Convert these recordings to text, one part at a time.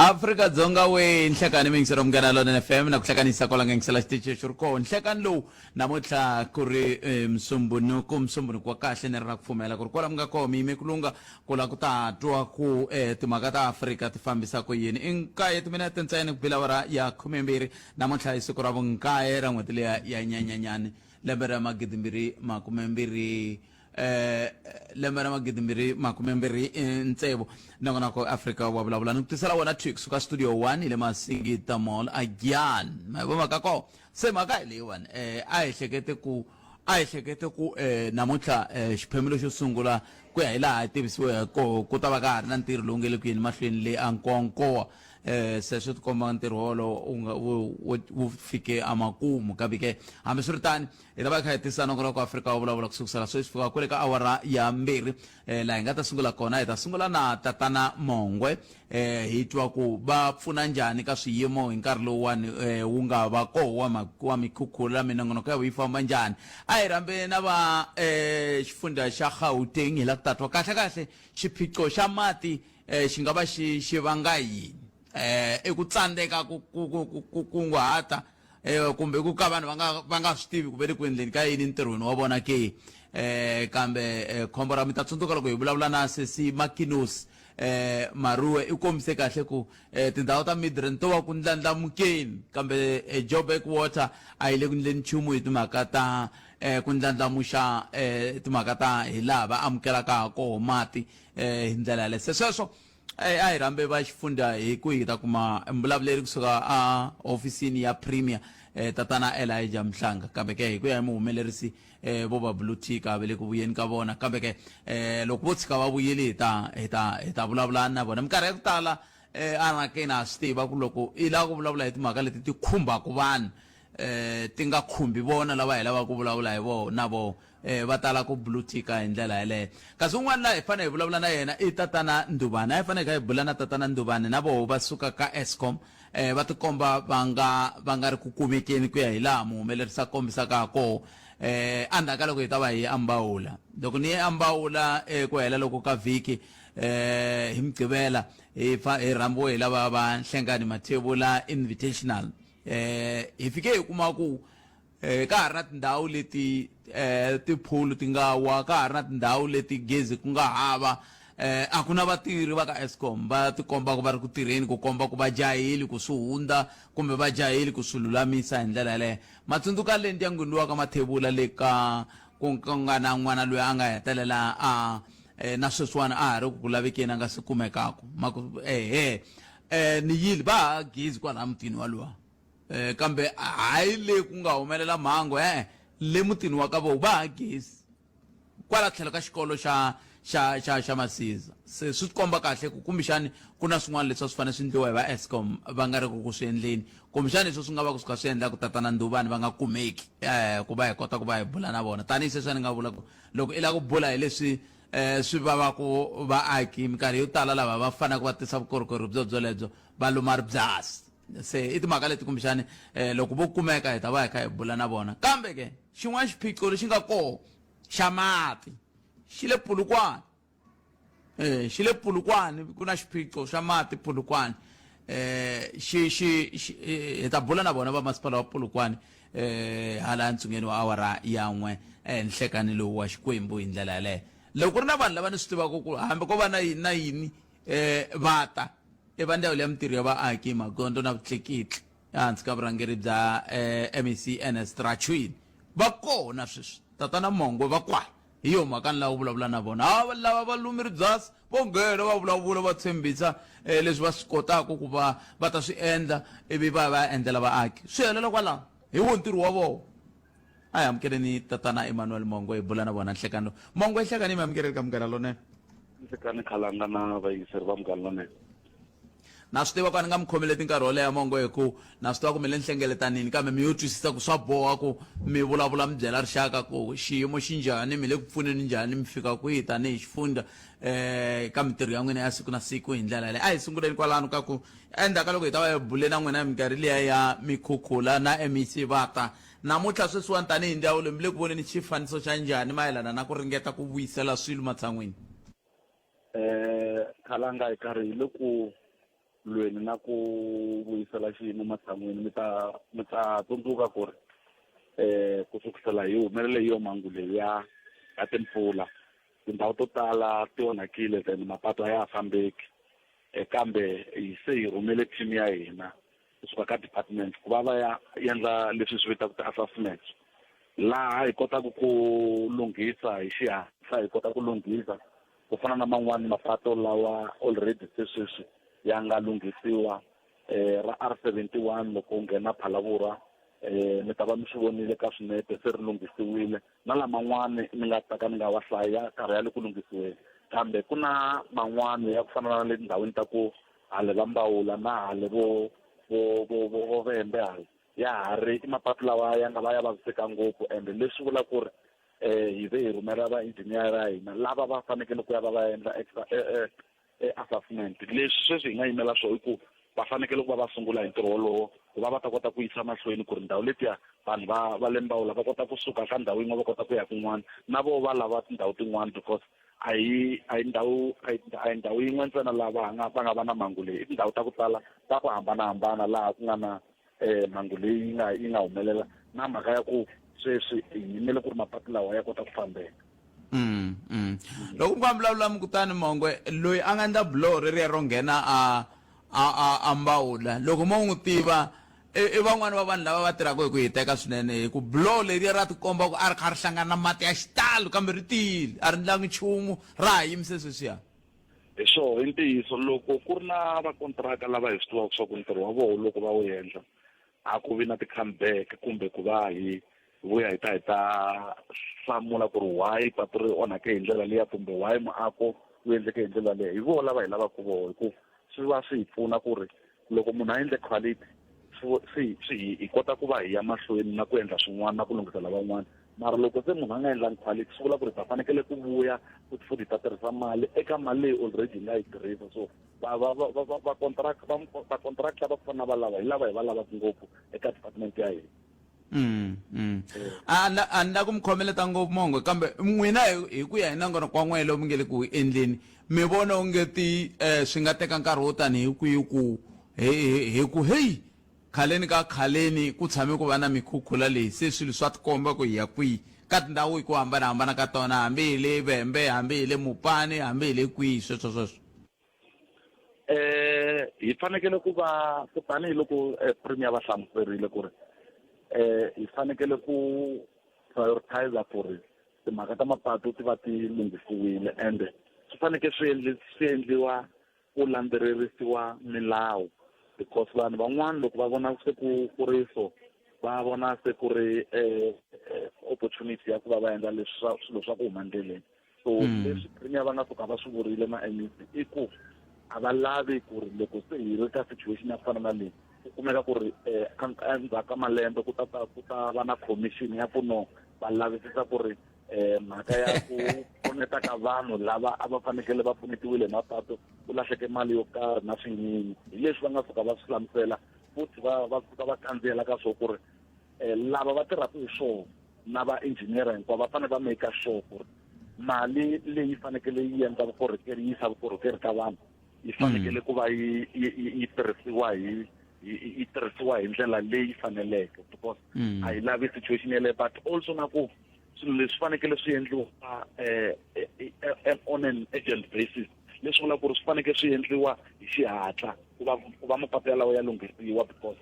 afrika dzonga we nhlekani mingisero munghana lona fm na ku hlekanisa kwala nga yingisela xitichi xi ri koho nhlekani lowu namuntlha ku ri eh, musumbunuku musumbunuku wa kahle ni ri na ku pfumela ku ri kwala mi nga koho mi yime ku lunga ku la ku ta twa ku eh, timhaka ta afrika ti fambisa ku yini i nkaye timinete ntsena ku bila awara ya khumembirhi namuntlha hi siku ra vunkaye ra n'hweti leya ya nyanyanyani lembe ra magidimbirhi makumembirhi eh lembe ra magidimbirhi makumembirhi eh, ntsevu nongonoko afrika wa vulavula ni ku tisela wona twi kusuka studio 1 hi le masingita mall agyan ma hi vomaka ko se mhaka hi leyiwani eh a hi hlekete ku a hi hlekete ku eh namuntlha eh xiphemu lexo sungula ku ya hi laha hi tivisiweke ku ta va ka ha ri na ntirho lowu nge le ku yeni mahlweni le ankonkowa eh se swi tikomba ntirho wolowo u nga wu fike amakumu kambe ke hambiswiritani hi ta va kha hi tisana ku loko afrika wa vulavula ku sukusela sweswi fika kwale ka awara ya mbirhi eh laha hi nga ta sungula kona hi ta sungula na tatana mongwe eh hi twa ku va pfuna njhani ka swiyimo hi nkarhi lowuwani eh wu nga va koho wa wa mikhukhula minongonoko ya yi famba njhani a hi rambe na va eh xifundza xa gauteng hi la ku tatwa kahle kahle xiphiqo xa mati eh, xi nga va xi xi vanga yini eh, i ku tsandzeka ku kunguhata eh, kumbe ku ka vanhu va nga va nga swi tivi ku ve le ku endleni ka yini ntirhweni wa vona ke eh, kambe eh, khombo ra mi ta tsundzuka loko hi vulavula na sesi makinosi eh maruwe i kombise kahle ku eh tindhawu ta midren to va ku ndlandlamukeni kambe eh, joburg water a yi le ku ndleni nchumu hi timhaka ta eh ku ndlandlamuxa eh timhaka ta hi laha va amukelaka ha koho mati eh, hi ndlela yaleyo se sweswo eh, a hi rhambe va xifundza hi ku hi ta kuma mbulavuleri kusuka a hofisini ya premier eh, tatana elija mhlanga kambe ke hi ku ya hi muhumelerisi eh, vo va blue tika ve le ku vuyeni ka vona kambe ke eh, loko vo tshika va vuyile hi ta hi ta hi ta vulavulani na vona minkarhi ya ku tala eh, anakeni ha swi tiva ku loko i lava ku vulavula hi timhaka leti ti khumbaka vanhu eh ti nga khumbi vona lava hi lavaka ku vulavula hi vo na vo Eh, va tala ku bulutika hi ndlela yaleyo kasi un'wana laha hi fanele hi vulavula na yena i tatana nduvani a hi faneleke hi bula na tatana nduvani na voho va suka ka escom eh, va tikomba va nga va nga ri ku kumekeni ku ya hi laha muhumelerisi a kombisaka ha koho eh, endzhaku ka loko hi ta va hi ambawula loko ni ye ambawula eku eh, hela loko ka vhiki eh, hi mugqivela hi fa hi rhambiwe hi lava va nhlengani mathevula invitational eh, hi fike hi kuma ku Ka ha ri na tindhawu leti tiphulu ti nga wa, ka ha ri na tindhawu leti gezi ku nga hava, a ku na vatirhi va ka Eskom va tikomba ku va ri ku tirheni ku komba ku va jaheli ku swi hundza kumbe va jaheli ku swi lulamisa hi ndlela yaleyo. Ma tsundzuka le ndyangwini luwa ka Mathebula le ka ku nga na n'wana loyi a nga hetelela a na sweswiwani a ha ri ku ku lavekeni a nga se kumekaka. Ma ku, Ehe, ni yile, va hava gezi kwalaya mutini waluwa. eh, kambe hayi le ku nga humelela mhangu e-e le mutini wa ka voho va ha gezi kwala tlhelo ka xikolo xa xa xa xa masiza se swi komba kahle ku kumbexani ku na swin'wana leswi swi fanele swi endliwa hi va escom va nga ri ku ku swi endleni kumbexani leswi swi nga va ku swi kha swi endla ku tatana nduvani va nga kumeki um ku va hi kota ku va hi bula na vona tanihi sweswi a ni nga vula ku loko i lava ku bula hi leswi um swi vavaku vaaki minkarhi yo tala lava va faneleke va tisa vukorhokeri byo byolebyo va luma ribyasi Se i timhaka leti kumbexani um loko vo kumeka hi ta va hi kha hi bula na vona kambe ke xin'wana xiphiqo lexi nga koho xa mati xi le pulukwani um xi le pulukwani ku na xiphiqo xa mati pulukwani um xi xi hi ta bula na vona va masipala wa pulukwani um hala ntsungeni wa awara yan'we ehenhlekani lowu wa xikwembu hi ndlela yaleyo loko ku ri na vanhu lava ni swi tivaka ku hambi ko va na yini na yini E va ta i va ndzawulo ya mitirho ya vaaki magondzo na vutlekitli ehansi ka vurhangeri bya e mec Ernest Rachuin va kona sweswi tatana Mongwe va kwala hi yo mhaka ni lava ku vulavula na vona ha va lava va lumi ribyasi vo nghena va vulavula va tshembisa e leswi va swi kotaka ku va va ta swi endla ivi va ya va ya endlela vaaki swi helela kwalaho hi wo ntirho wa vona A hi amukeleni tatana Emmanuel Mongo hi bula na vona nhlekani lowu. Mongo nhlekani mi amukerile ka Munghana Lonene. Nhlekani Khalanga na vayingiseri va Munghana Lonene. Na swi tiva ku a ni nga mi khomeleti nkarhi wo leha Mongo hi ku na swi tiva ku mi le nhlengeletanini kambe mi yo twisisa ku swa boha ku mi vulavula mi byela rixaka ku xiyimo xi njhani, mi le ku pfuneni njhani, mi fika kwihi tanihi xifundza ka mintirho ya n'wina ya siku na siku hi ndlela yaleyo. A hi sunguleni kwalano ka ku Endzhaku ka loko hi ta va hi bule na n'wina hi minkarhi liya ya mikhukhula na emisivata, namuntlha sweswiwani tanihi ndzawulo mi le ku voneni xifaniso xa njhani mayelana na ku ringeta ku vuyisela swilo matshan'wini? Khalanga hi karhi hi le ku lweni na ku vuyisela xiyimo matshan'wini. Mi ta mi ta tsundzuka ku ri ku sukusela hi humelele hi yo mhangu leyi ya ya timpfula Tindhawu to tala ti onhakile then mapatu a ya ha fambeki eh, kambe hi se hi rhumele team ya hina kusuka ka department ku va va ya endla leswi swi vitaka ti-assessments laha hi kotaka ku lunghisa hi xihatla hi kota ku lunghisa ku fana na man'wani mapatu lawa already se sweswi ya nga lunghisiwa eh, ra r 71 loko u nghena phalavurwa eh, mi ta va mi swi vonile ka swinepe se ri lunghisiwile na laman'wana ni nga ta ka ni nga wa hlaya karhi ya le ku lunghisiweni kambe ku na man'wana ya ku fana na le tindhawini ta ku hale va mbawula na hale vo vo vo vo vo vembe hale ya ha ri i mapatu lawa ya nga va ya vaviseka ngopfu ende leswi vula ku ri um hi ve hi rhumela va-engineer ya hina lava va fanekele ku ya va va endla extra eh, eh, assessment leswi sweswi hi nga yimela swona i ku va fanekele ku va va sungula hi ntirho wolowo ku va va ta kota ku yisa mahlweni ku ri ndhawu letiya vanhu va va le mbawula va kota kusuka ka ndhawu yin'we va kota ku ya kun'wana na vo va lava tindhawu tin'wana because a hi a hi ndhawu a hi ndhawu yin'we ntsena laha va nga va nga va na mhangu leyi i tindhawu ta ku tala ta ku hambanahambana laha ku nga na eh mhangu leyi yi nga yi nga humelela na mhaka ya ku sweswi hi yimele ku ri mapatu lawa ya kota ku fambeka Mm, mm. loko mi nga vulavula mi kutani mongwe loyi a nga endla buloho reriya ro nghena a a a a mbawula loko mo n'wi tiva i i van'wani va vanhu lava va tirhaka hi ku hi teka swinene hi ku buloho leriya ra tikomba ku a ri kha ri hlangana na mati ya xitalo kambe ri tiyile a ri ndlangi nchumu ra ha yimise sweswiya hi swoho i ntiyiso loko ku ri na vakontiraka lava hi swi tivaka swa ku ntirho wa voho loko va wu endla a ku vi na ti-comeback kumbe ku va hi vuya hi ta hi ta hlamula ku ri why patu ri onhake hi ndlela liya kumbe why muako wu endleke hi ndlela leyi hi voho lava hi lavaka voho hi ku swi va swi hi pfuna ku ri loko munhu a endle quality swi swi hi kota ku va hi ya mahlweni na ku endla swin'wana na ku lunghisela van'wana mara loko se munhu a nga endlangi quality swi vula ku ri ta fanekele ku vuya futhi futhi ta tirhisa mali eka mali leyi already hi nga yi tirhisa so vacontract va contract lava ku fana na valava hi lava hi va lavaka ngopfu eka department ya hina Mm, mm. A na- a ni la ku mi khomeleta ngopfu mongo kambe n'wina hi- hi ku ya hi nongonoko wa n'wina lowu mi nge le ku endleni mi vona onge ti eh, swi nga teka nkarhi wo tani hi kwihi ku hi- hi hi ku heyi khaleni ka khaleni ku tshame ku va na mikhukhula leyi se swilo swa tikomba ku hi ya kwihi ka tindhawu hi ku hambanahambana ka tona hambi hi le vhembe hambi hi le mupani hambi hi le kwihi sweswo sweswo eh hi fanekele ku va ku tanihi loko eh, premier va hlamuserile ku ri eh hi fanekele ku prioritize ku ri timhaka ta mapatu ti va ti lunghisiwile ende swi fanekele swi endli swi endliwa ku landzelerisiwa milawu because vanhu van'wana loko va vona se ku ku ri so va vona se ku ri eh, eh opportunity ya ku va va endla leswi swilo swa ku huma endleleni so mm. leswi premier va nga suka va swi vurile ma mec i ku a va lavi ku ri loko se hi ri ka situation ya ku fana na leyi ku kumeka ku ri um endzhaku ka malembe ku ta ku ta va na commission ya ku no va lavisisa ku ri um mhaka ya ku pfuneta ka vanhu lava a va fanekele va pfunetiwile hi mapatu ku lahleke mali yo karhi na swinyinyi hi leswi va nga suka va swi hlamusela futhi va va suka va kandziyela ka swo ku ri um lava va tirhaka hi swona na va engineer hinkwavo va fanele va make sure ku ri mali leyi fanekele yi endla vukorhokeri yi yisa vukorhokeri ka vanhu yi fanekele ku va yi yi tirhisiwa hi yi tirhisiwa hi ndlela leyi faneleke because mm. a yi lavi situation yeleyo but also na ku swilo leswi fanekele swi endliwa eh, eh, eh, on an agent basis leswi vula ku ri swi fanekele swi endliwa hi xihatla ku va ku va mapatu yalawo ya lunghisiwa because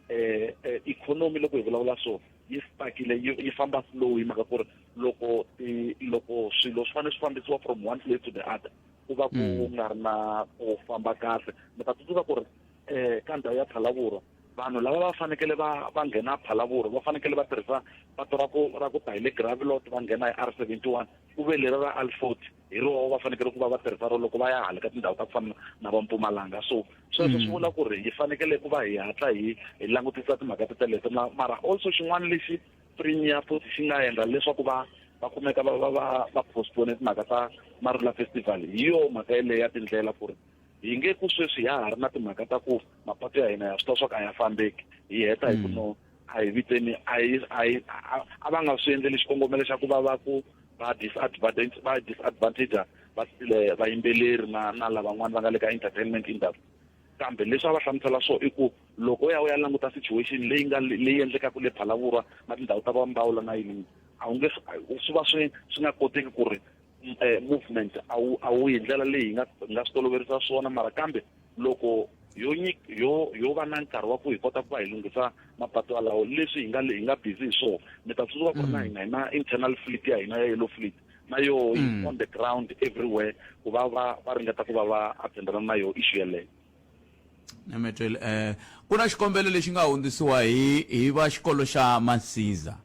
eh, eh economy loko hi vulavula so yi stakile yi famba slow hi mhaka ku ri loko loko swilo swi fanele swi fambisiwa from one place to the other ku va ku mm. nga ri na ku famba kahle mi ta tsundzuka ku ri um ka ndhawu ya phalavurwa vanhu lava va fanekele va va nghena phalavurwa va fanekele va tirhisa pato ra ku ra ku ta hi le gravilot va nghena hi r seventy one ku ve leri ra alfort hi roho va fanekele ku va va tirhisa ro loko va ya hala ka tindhawu ta ku fana na va mpumalanga so sweswo swi mm. vula ku ri hi fanekele ku va hi hatla hi hi langutisa timhaka ti teleto mara also xin'wana lexi premier port xi nga endla leswaku va va kumeka va va va va postpone timhaka ta marula festival hi yo mhaka yeleyo ya tindlela ku ri hi nge ku sweswi ya ha ri na timhaka ta ku mapatu ya hina ya swi tiva swa ku a ya fambeki hi heta hi ku mm. no a hi viteni a hi a hi a va nga swi endleli xikongomelo xa ku va va ku va disadvantage va disadvantage va eh, vayimbeleri na na lavan'wana va nga le ka entertainment industry kambe leswi a va hlamusela swo i ku loko u ya u ya languta situation leyi nga leyi endlekaka le phalavurwa na tindhawu ta vambawula na yini a wu nge swi va swi swi nga koteki ku ri eh, movement a wu a wu hi ndlela leyi hi nga hi nga swi toloverisa swona mara kambe loko yo nyik yo yo va na nkarhi wa ku hi kota ku va hi lunghisa mapatu alawo leswi hi nga le- hi nga busy hi swona mi ta tsundzuka ku ri na hina hi na internal fleet ya hina ya yellow fleet na yoho yi Mm. on the ground everywhere ku va va va ringeta ku va va attendelana na yoho issue yeleyo nemetweli um ku na xikombelo lexi nga hundzisiwa hi hi va xikolo xa masizah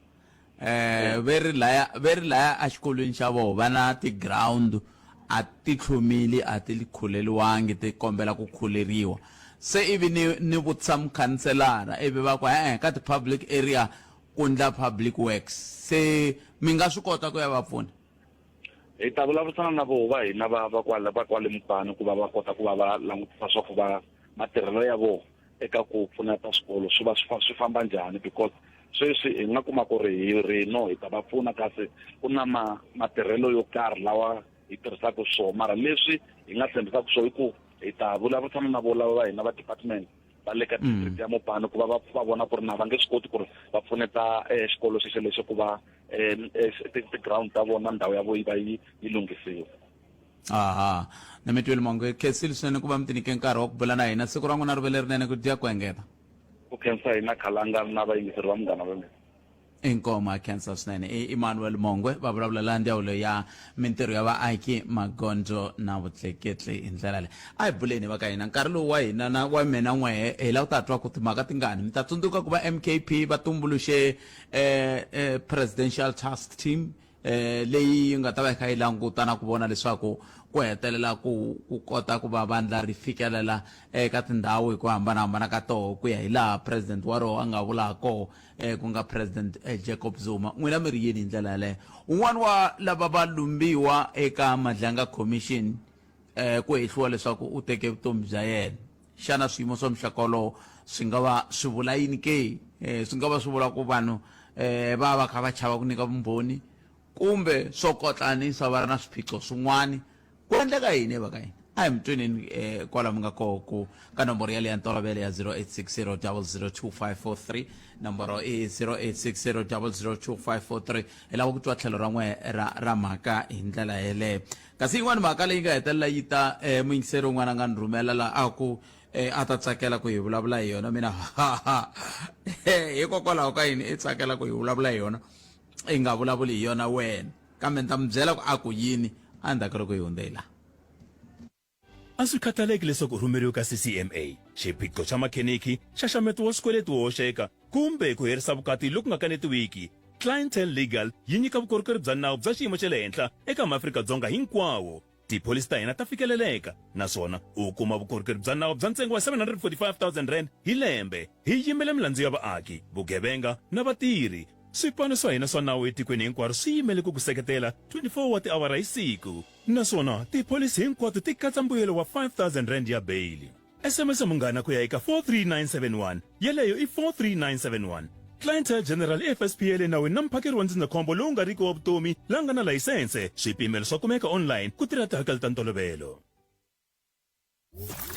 eh ve ri laya ve ri laya a xikolweni xa vona va na ti-ground a ti tlhumili a ti khuleriwangi ti kombela ku khuleriwa se ivi ni ni vutisa mukhanselara ivi va ku e-e ka ti-public area ku ndla public works se mi nga swi kota ku ya va pfuna hi ta vulavurisana na voho va hina va va kwale va kwale mupani ku va va kota ku va va langutisa swa ku va matirhelo ya vona eka ku pfuneta swikolo swi va swi famba njhani because sweswi hi nga kuma ku ri hi rino hi ta va pfuna kasi ku na ma matirhelo yo karhi lawa hi tirhisaka swona mara leswi hi nga tshembisaka swona i ku hi ta vulavurisana na vo lava va hina va department va le ka mm. district ya mopano ku va va va vona ku ri na va nge swi koti ku ri va pfuneta um xikolo xexo lexo ku va um ti-ground ta vona ndhawu ya vo yi va yi yi lunghisiwa aha na mi twile mongo khensile swinene ku va mi tinike nkarhi wa ku bula na hina siku ra n'wina ri ve lerinene ku dya ku engeta ku khensa hina khalanga na vayingiseri va munghana lonene inkomo a khensa swinene i emmanuel mongwe va vulavula la ndzawulo ya mintirho ya vaaki magondzo na vutleketli hi ndlela leyi a hi buleni va ka hina nkarhi lowu wa hina na wa mina n'wehe hi lava ku ta twa ku timhaka tingani mi ta tsundzuka ku va mkp va tumbuluxe eh, eh, presidential task team eh, leyi yi nga ta va yi kha yi languta na ku vona leswaku ku hetelela ku ku kota ku va vandla ri fikelela eka tindhawu hi ku hambanahambana ka toho ku ya hi laha president wa roho a nga vulaka koho um ku nga president eh, jacob zuma n'wina mi ri yini hi ndlela yaleyo un'wana wa lava va lumbiwa eka madlanga commission um ku hehliwa leswaku u teke vutomi bya yena xana swiyimo swa muxaka wolowo swi nga va swi vula yini ke um swi nga va swi vula ku vanhu um va va kha va chava ku nyika vumbhoni kumbe swo kotlanisa va ri na swiphiqo swin'wana ku endleka yini va ka yini a hi mi tweneni um kwala mi nga koho ku ka nomboro yaleyo ya ntolovelo ya 0860002543 nomboro i 0860002543 hi lava ku twa tlhelo ra n'we ra ra mhaka hi ndlela yeleyo Kasi yin'wana mhaka leyi nga hetelela yi ta emuyingiseri un'wana a nga ni rhumela la a ku a ta tsakela ku hi vulavula hi yona mina hikokwalaho ka yini i tsakela ku hi vulavula hi yona i nga vulavuli hi yona wena kambe ni ta mi byela ku a ku yini a ndzhaku loko hi hundze hi laha a swi khathaleki leswaku u rhumeriwe ka ccma xiphiqo xa makheniki xaxameto wa swikweleti wo hoxeka kumbe ku herisa vukati loku nga kanetiwiki, Clientele Legal yi nyika vukorhokeri bya nawu bya xiyimo xa le henhla eka maAfrika-Dzonga hinkwawo. Tipholisi ta hina ta fikeleleka naswona u kuma vukorhokeri bya nawu bya ntsengo wa R745,000 hi lembe. Hi yimela milandzu ya vaaki, vugevenga na vatirhi. Swipano swa hina swa nawu etikweni hinkwaro swi yimele ku ku seketela 24 wa tiawara hi siku, naswona tipholisi hinkwato ti katsa mbuyelo wa R5,000 ya beyili. sms munghana ku ya eka 43971 yeleyo i 43971 clientele general fsp ya le nawini na muphakeri wa ndzindzakhombo lowu nga riki wa vutomi la nga na layisense swipimelo swa kumeka online ku tirha tihakelo ta ntolovelo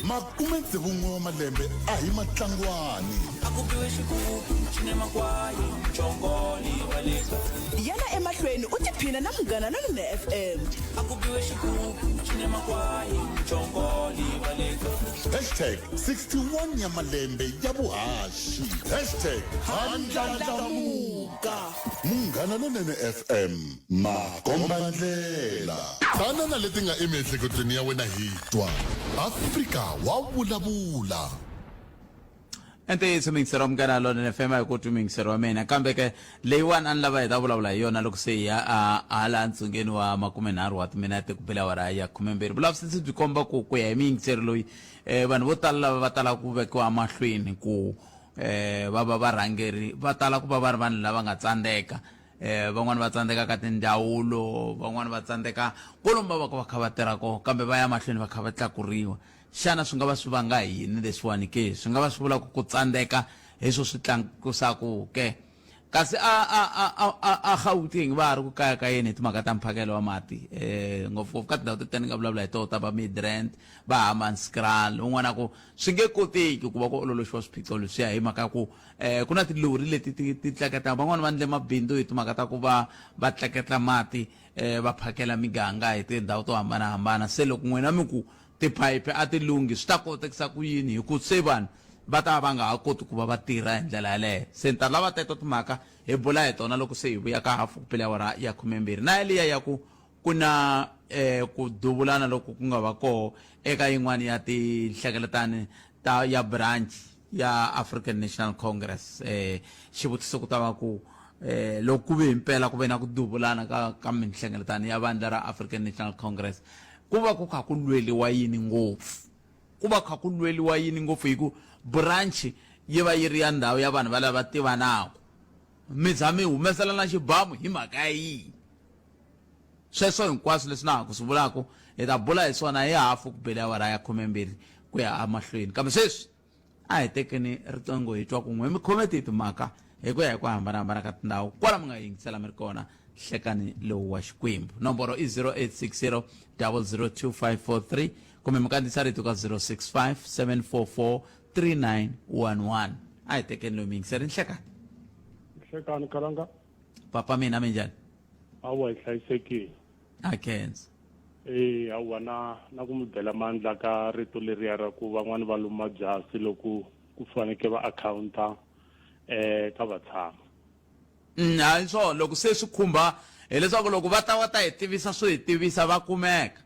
makume tsevu n'we wa malembe a hi matlangwani yana emahlweni u tiphina na munghana lonene fm hashtag 61 ya malembe ya vuhaxi hashtag handlandlamuka munghana lonene fm makombandlela tana na leti nga emiehleketweni ya wena hi twa afrika wa vulavula ntiyiso mingisero munghana lona ni fema hi ku twi mingisero wa mina kambe ke leyiwani a ni lava hi ta vulavula hi yona loko se hi ya hala ntsungeni wa makumenharhu wa timinete ku bela wara ya khumembirhi vulavisisi byi komba ku ku ya hi miyingiseri loyi um vanhu vo tala lava va talaka ku vekiwa emahlweni ku um va va varhangeri va tala ku va va ri vanhu lava nga tsandzeka um van'wani va tsandzeka ka tindzawulo van'wani va tsandzeka kolomba va ka va kha va tirha koho kambe va ya mahlweni va kha va tlakuriwa Xana swi nga va swi vanga hi yini leswiwani ke? Swi nga va swi vula ku ku tsandzeka hi swo swi tlakusaku ke? Kasi a a a a a a Gauteng va ha ri ku kayakayeni hi timhaka ta mphakelo wa mati e ngopfungopfu ka tindhawu teti ni nga vulavula hi toho ta va Midrand, va Hammanskraal un'wana a ku swi nge koteki ku va ku ololoxiwa swiphiqo leswiya hi mhaka ya ku e ku na tilori leti ti ti tleketla van'wana va ndle mabindzu hi timhaka ta ku va va tleketla mati e va phakela miganga hi tindhawu to hambanahambana se loko n'wina mi ku Tiphayiphi a ti lunghi. Swi ta kotekisa ku yini? Hi ku se vanhu va ta va va nga ha koti ku va va tirha hi ndlela yaleyo. Se ni ta lava teto timhaka hi bula hi tona loko se hi vuya ka hafu ku pele awara ya khumembirhi. Na yaliya ya ku ku na ku duvulana loku ku nga va koho eka yin'wana ya tinhlengeletano ta ya branch ya African National Congress eh xivutiso ku ta va ku eh loko ku ve impela ku ve na ku duvulana ka ka minhlengeletano ya vandla ra African National Congress ku va ku kha ku lweliwa yini ngopfu ku va kha ku lweliwa yini ngopfu hi ku branch yi va yi ri ya ndhawu ya vanhu va lava tivanaku mi za mi humeselana xibamu hi mhaka ya yini Sweswo hinkwaswo leswi na ha ku swi vulaka, hi ta bula hi swona hi hafu ku bele awara ya khumembirhi ku ya emahlweni. Kambe sweswi, a hi tekeni riqingho hi twa kun'we, mi khome tihi timhaka hi ku ya hi ku hambana-hambana ka tindhawu kwala mi nga yingisela mi ri kona nhlekani lowu wa Xikwembu. Nomboro i 0860002543 kumbe mi kandziyisa rito ka 0657443911. A hi tekeni loyi muyingiseri, nhlekani. Nhlekani, Kalanga. papa mina mi njhani awa hi hlayisekile a kenza e awa na na ku mi bela mandla ka rito leriya ra ku van'wani va luma byasi loko ku faneke va akhawunta eh ka vatshami mm, hayi swo loko se swi khumba hileswaku loko va ta va ta hi tivisa swo hi tivisa va kumeka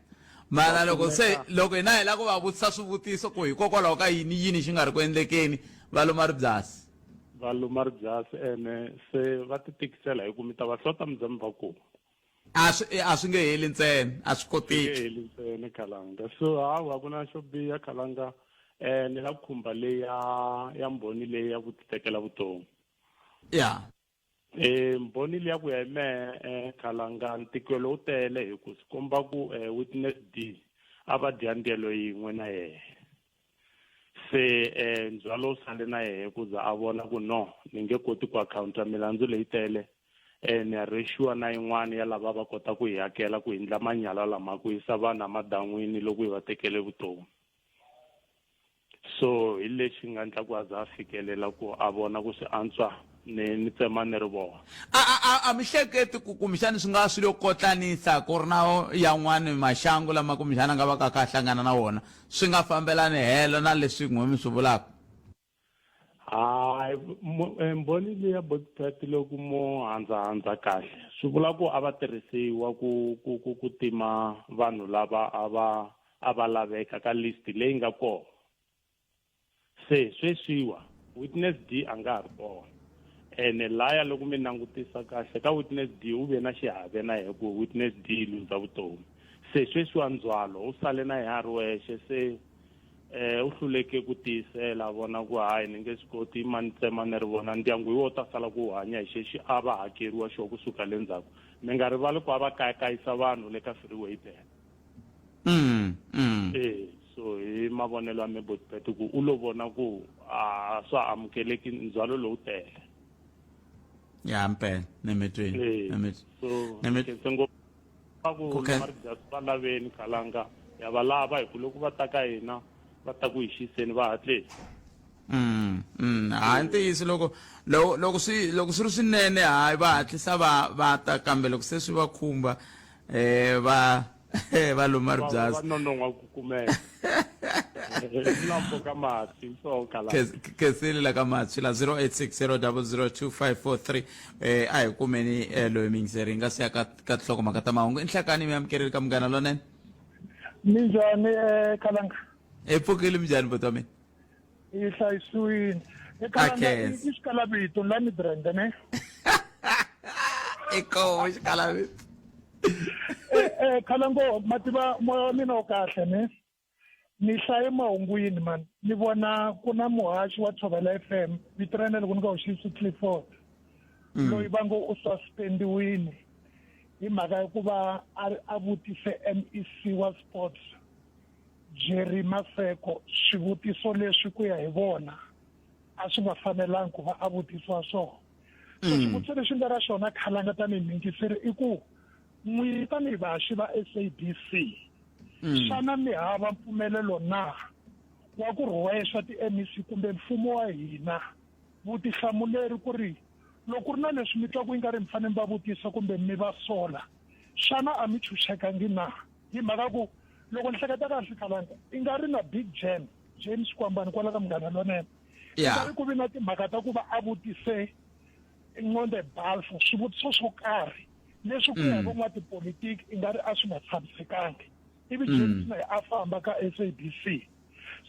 mara loko se loko hina hi lava ku va vutisa swivutiso ku hikokwalaho ka yini yini xi nga ri ku endlekeni va luma ribyasi Va luma ri byasi ene se va ti tikisela hi ku mi ta va hlota mi za mi va kuma. A swi a swi nge heli ntsena a swi koteki. Swi nge heli ntsena Khalanga so hawa ku na xo biha Khalanga ni la khumba leya ya mbhoni leyi ya ku ti tekela vutomi. Ya. E mbhoni liya ku ya hi mehe eh, khalanga ntikelo wu tele hi ku swi komba ku eh, witness d a va dya ndyelo yin'we na yehe se eh, ndzhwalo wu sale na yehe ku za a vona ku no ni nge koti ku akhawunta milandzu leyi tele eh, ni ya rexiwa na yin'wana ya lava va kota ku hi hakela ku hindla manyala lama ku yisa vanhu emadan'wini loko hi va tekele vutomi so hi lexi nga endla ku a za a fikelela ku a vona ku swi antswa ni ni tsema ni ri vona a a a mi hleketi ku kumbexani swi nga swilo kotlanisa ku ri na yan'wani maxangu lama kumbexani a nga va ka ka hlangana na wona swi nga fambelani helo na leswi n'we mi swi vulaka hayi eh, mbhoni leya botipati loku mo handzahandza kahle swi vula ku a va tirhisiwa ku ku ku ku tima vanhu lava a va a va laveka ka list leyi nga kona se sweswiwa witness d a nga ha ri kona ene laya loko mi langutisa kahle ka witness d u ve na xiave na yena ku witness d lundza vutomi se sweswiwa ndzwalo u sale na yena a ri wexe se um u hluleke ku tiyisela a vona ku hayi ni nge swi koti i mani tsema ni ri vona ndyangu hi wo ta sala ku hanya hi xexi a va hakeriwa xo kusuka le ndzhaku mi nga rivali ku a va kayakayisa vanhu le ka freeway bele mm, mm. Eh, so hi mavonelo ya mebotipete ku u lo vona ku a swa amukeleki ndzhwalo lowu tele ya mpela nemetweni eh, nemetweni ngopfu va ku marijas va laveni khalanga ya va lava hi ku loko va ta ka hina va ta ku hi xiseni va hatleni Mm, mm. hayi ntiyiso loko loko loko swi loko swi ri swinene hayi va hatlisa va va ta kambe loko se swi va khumba eh va va luma ri byasi va nonon'wa ku kumeka lambo ka mati so kala khesile la ka mati la 0860002543 eh a hi kumeni eh, loyi mingiseri nga siya ka ka hloko maka ta mahungu inhlakani mi amukereli ka munghana lonene minjhani eh khalanga e pfukile minjhani botwa mina yi hlayisiwini i khalanga i xikalavito la ni brenda ne i koho xikalavito eh, eh, khalango ma tiva moya wa mina wo kahle ne ni hlaye mahungwini mani ni vona ku na muhaxi wa tshovela f m vito ra yena loko ni nga hoxisi clifford mm. loyi va ngo u suspendiwini hi mhaka ya ku va a vutise m e c wa sports Jerry Maseko swivutiso leswi ku ya hi vona a swi nga fanelangi ku va a vutisiwa swona so mm. xivutiso lexi nga ra xona khalanga tanihi mingiseri i ku n'wini tanihi vaxi va sabc mm. xana mi hava mpfumelelo na wa ku rhwexa ti-mec kumbe mfumo wa hina vutihlamuleri ku ri loko ku ri na leswi mi twa ku yi nga ri mi fanele mi va vutisa kumbe mi va sola xana a mi chuchekangi na hi mhaka ku loko ni hleketa kahle kalanga i nga ri na big jam james kwambani kwala ka munghana lonene i nga ri ku vi na timhaka ta ku va a vutise nconde balfo swivutiso swo karhi leswi ku ya mm. van'watipolitiki i nga ri a swi nga tshamisekangi ivi mm. james naye a famba ka sabc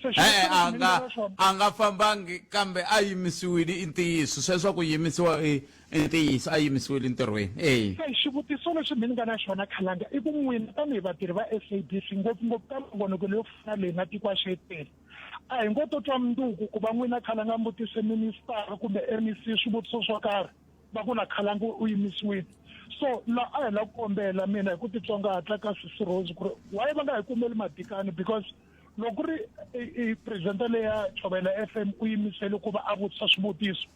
se xi e-e a nga a nga fambangi kambe a yimisiwile i ntiyiso sweswo ku yimisiwa i i ntiyiso a yimisiwile ntirhweni eyi se xivutiso lexi mi ni nga na xona khalanga i ku n'wina tanihi vatirhi va s a b c ngopfungopfu ka mavonekelo yo fana leyi na tiko a xetele a hi ngo to twa munduku ku va n'wina khalanga mbutise ministara kumbe m e c swivutiso swo karhi va ku na khalanga u yimisiwile so la a hi la ku kombela mina hi ku titsongahatla ka sisi rose ku ri why va nga hi kumeli madikani because loko ku ri i presidenta leya chovela f m u yimisele ku va a vutisa swivutiso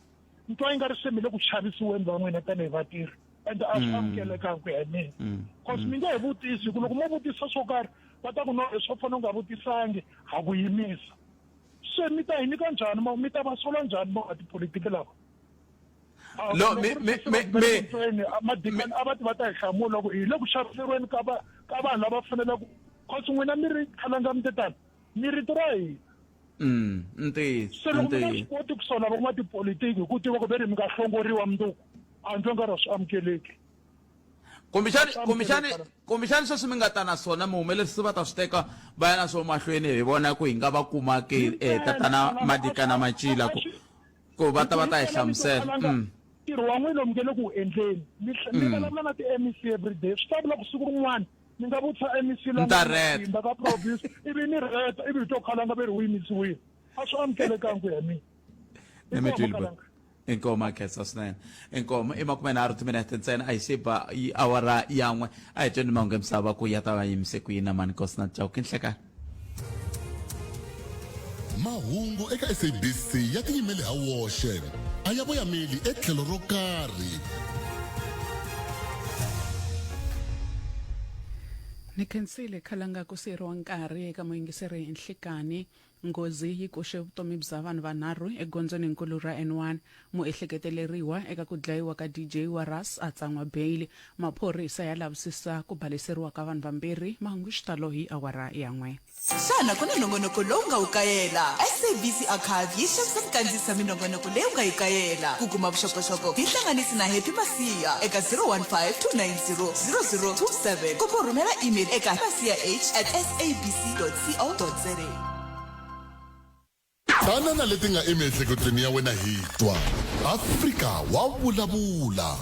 ni twa yi nga ri se mi le ku chavisiweni va n'wina tanihi vatirhi and a swi mm. amukelekanga ku ya hi mina mm. cause mm. mi nge he vutisi hi ku loko mo vutisa swo karhi va ta ku no leswi va fanele u nga vutisangi ha ku yimisa se mi ta hi nyika njhani mi ta va sola njhani va nga tipolitiki lava No, me- me- me- me- ntsena a madikani a va ti va ta hi hlamula ku hi le ku xaviseriweni ka va ka vanhu lava fanelaka cause n'wina mi ri khalanga mi te tani mi rito ra hina Mm, ntiyiso se loko mi nga swi ntiyiso koti ku sola van'wana tipolitiki hi ku tiva ku ve ri mi nga hlongoriwa mundzuku a ndzi nga ri swi amukeleki kumbexani Swa kumbexani amukela xana? kumbexani sweswi mi nga ta na swona muhumelerisi va ta swi teka va ya na swo mahlweni hi vona ku hi nga va kumaki eh, tatana madikana macila ku ku va ta va ta yi hlamusela mm. ntirho wa n'wina mi nge le ku wu endleni mi mm. vulavula na ti-mec everyday swi ta vula ku siku rin'wana ni nga vutisa mec lamatimba ka province ivi ni reta ivi hi to khalanga ve ri wu yimisiwile a swi amukelekangi ku ya mina inkomo akhetsa swinene inkomo i makume nharhu timinete ntsena a yi se ba awara yan'we a hi tweni mahungu emisava ku ya ta va yimise ku yini na mani kosi na jawu ki nhlekani mahungu eka sabc ya tiyimele ha woxe a ya voyameli etlhelo ro karhi ni khensile khalanga ku siyeriwa nkarhi eka muyingiseri hi nhlikani nghozi yi koxe vutomi bya vanhu vanharhu egondzweni nkulu ra n1 muehleketeleriwa eka ku dlayiwa ka dj wa ras a tsan'wa beyili maphorisa ya lavisisa ku baleseriwa ka vanhu vambirhi mahungu xitalo hi awara ya n'we xana ku na nongonoko lowu nga wu kayela sabc archive yi xavisa minkandziyiso ya minongonoko leyi u nga yi kayela ku kuma vuxokoxoko hi hlanganisi na happy masiya eka 015 290 0027 kumbe u rhumela email eka masiya h at sabc co za Tana na leti nga emiehleketweni ya wena hi twa. Afrika wa vulavula.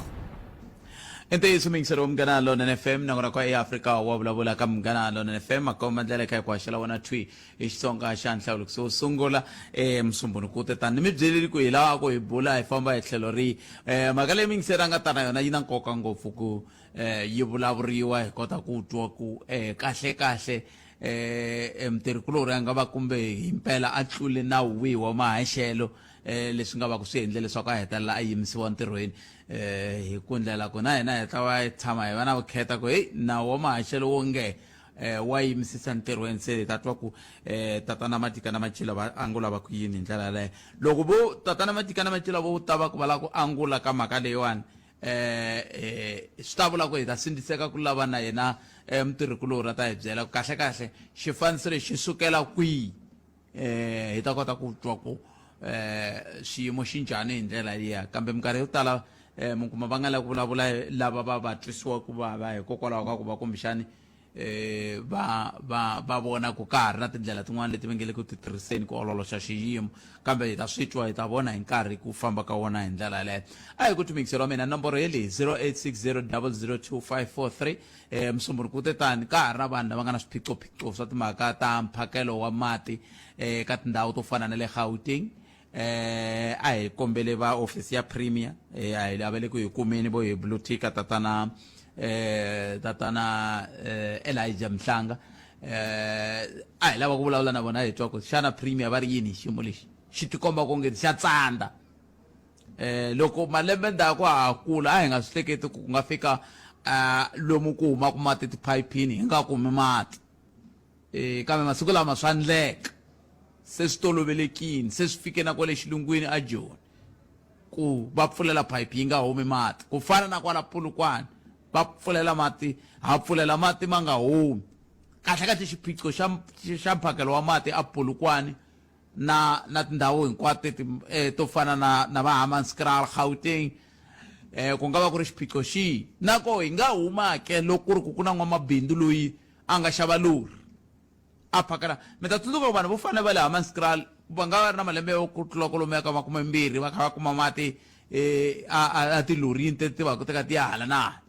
I ntiyiso mingiseri wa Munghana Lonene FM na n'wana kwa eAfrika wa vulavula ka Munghana Lonene FM makomba ndlela eka ku haxela wena thwi hi Xitsonga xa nhlawulikiso wo sungula eh, musumbunuku wu te tani ni mi byeleli ku hi laha ku hi bula hi famba hi tlhelo rihi eh, mhaka leyi mingiseri a nga ta na yona yi na nkoka ngopfu ku eh, yi vulavuriwa hi kota ku twa ku eh, kahle kahle um mutirhikulorhi a nga va kumbe hi mpela a tlule nawu wihi wa mahaxelo um leswi nga va ku swi endle leswaku a hetelela a yimisiwa ntirhweni um hi ku ndlela ku na hina hi ta va tshama hi va na vukheta ku heyi nawu wa mahaxelo wo nge um wa yimisisa ntirhweni se hi ta twa ku um tatana matika na macila va angula va ku yini hi ndlela yaleyo loko vo tatana matika na macila vo ta va ku va lava ku angula ka mhaka leyiwani eh, eh, swi ta vula ku hi ta sindziseka ku lava na yena eh, mutirhikulorhi a ta hi byela kahle kahle xifaniso lexi sukela kwihi eh, hi ta kota ku twa ku eh, xiyimo xi njhani hi ndlela liya kambe minkarhi yo tala eh, mi kuma va nga lavi ku vulavula lava va va twisiwa ku vava hikokwalaho ka ku va kumbexani eh va va va vona ku ka ha ri na tindlela tin'wana leti va nge le ku ti tirhiseni ku ololoxa xiyimo kambe hi ta swi twa hi ta vona hi nkarhi ku famba ka wona hi ndlela yaleyo a hi ku thumikiselo wa mina nomboro ye leyi 0860002543 eh musumbunuku ku te tani ka ha ri na vanhu lava nga na swiphiqophiqo swa timhaka ta mphakelo wa mati eh ka tindhawu to fana na le gauteng Eh, a hi kombele va office ya premier eh, a hi lavele ku hi kumeni vo hi blue ticker tatana eh, tatana eh, elijah mhlanga eh, a hi lava ku vulavula na vona hi twa ku xana premier va ri yini hi xiyimo lexi xi tikomba ku nge xa tsandza eh, loko malembe ndzhaku ha ha kula a hi nga swi hleketi ku ku nga fika ah, lomu ku humaka mati tiphayiphini hi nga kumi mati eh, kambe masiku lama swa ndleka Se swi tolovelekile, se swi fike na kwale xilungwini aJoni ku va pfulela phayiphi yi nga humi mati, ku fana na kwala Polokwane va pfulela mati ha pfulela mati ma nga humi. Kahle-kahle xiphiqo xa xa mphakelo wa mati aPolokwane na na tindhawu hinkwato teti to fana na na va Hammanskraal, Gauteng, ku nga va ku ri xiphiqo xihi? Na koho hi nga huma ke loko ku ri ku ku na n'wamabindzu loyi a nga xava lori. A phakela, Mi ta tsundzuka ku vanhu vo fana ni va le Hammanskraal va nga va ri na malembe yo ku tlula kwalomu ya ka makumembirhi va kha va kuma mati etilorini leti ti vaka ti kha ti ya hala na hala.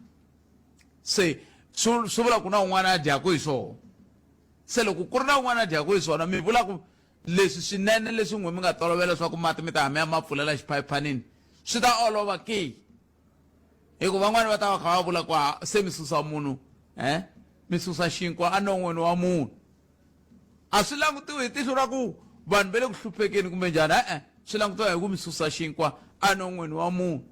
Se swi swi vula ku na un'wana a dyaka hi swona. Se loko ku ri na un'wana a dyaka hi swona mi vula ku leswi swinene leswi n'wina mi nga tolovela leswaku mati mi ta ya mi ya ma pfulela xiphayiphanini swi ta olova ke? hi ku van'wani va ta va kha va vula ku a se mi susa munhu um mi susa xinkwa enon'wini wa munhu a swi langutiwi hi tihlo ra ku vanhu va le ku hluphekeni kumbe njhani e-e swi langutiwa hi ku mi susa xinkwa enon'wini wa munhu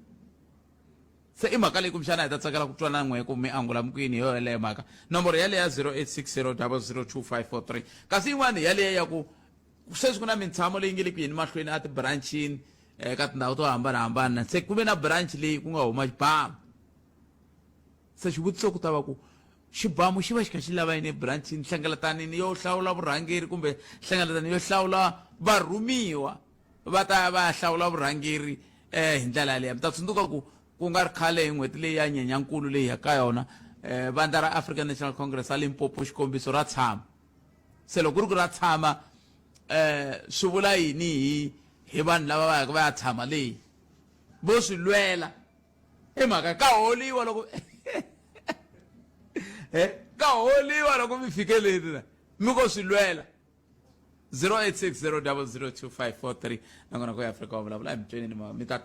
se i mhaka leyi kumbexana hi ta tsakela ku twana n'we ku mi angula mikwini hi yo yeleyo mhaka nomboro yaleyo ya 0860 002 543 kasi yin'wana hi yaleyo ya ku sweswi ku na mintshamo leyi nge le ku yeni mahlweni a tibranchini um ka tindhawu to hambanahambana se ku ve na branch leyi ku nga huma xibamu se xivutiso ku ta va ku xibamu xi va xi kha xi lava yini ebranchini hlengeletanini yo hlawula vurhangeri kumbe hlengeletanini yo hlawula varhumiwa va ta ya va ya hlawula vurhangeri um hi ndlela yaleyo mi ta tsundzuka ku ku nga ri khale hi n'hweti leyi ya nyenyankulu leyi ya ka yona um vandla ra african national congress ra limpopo xikombiso ra tshama se loko ku ri ku ra tshama um swi vula yini hi hi vanhu lava va yaka va ya tshama leyi vo swi lwela i mhaka ka holiwa loko e ka holiwa loko mi fikeleni na mi ko swi lwela 0860002543 nakona ku ya afrika wa vulavula emitsweni mi ta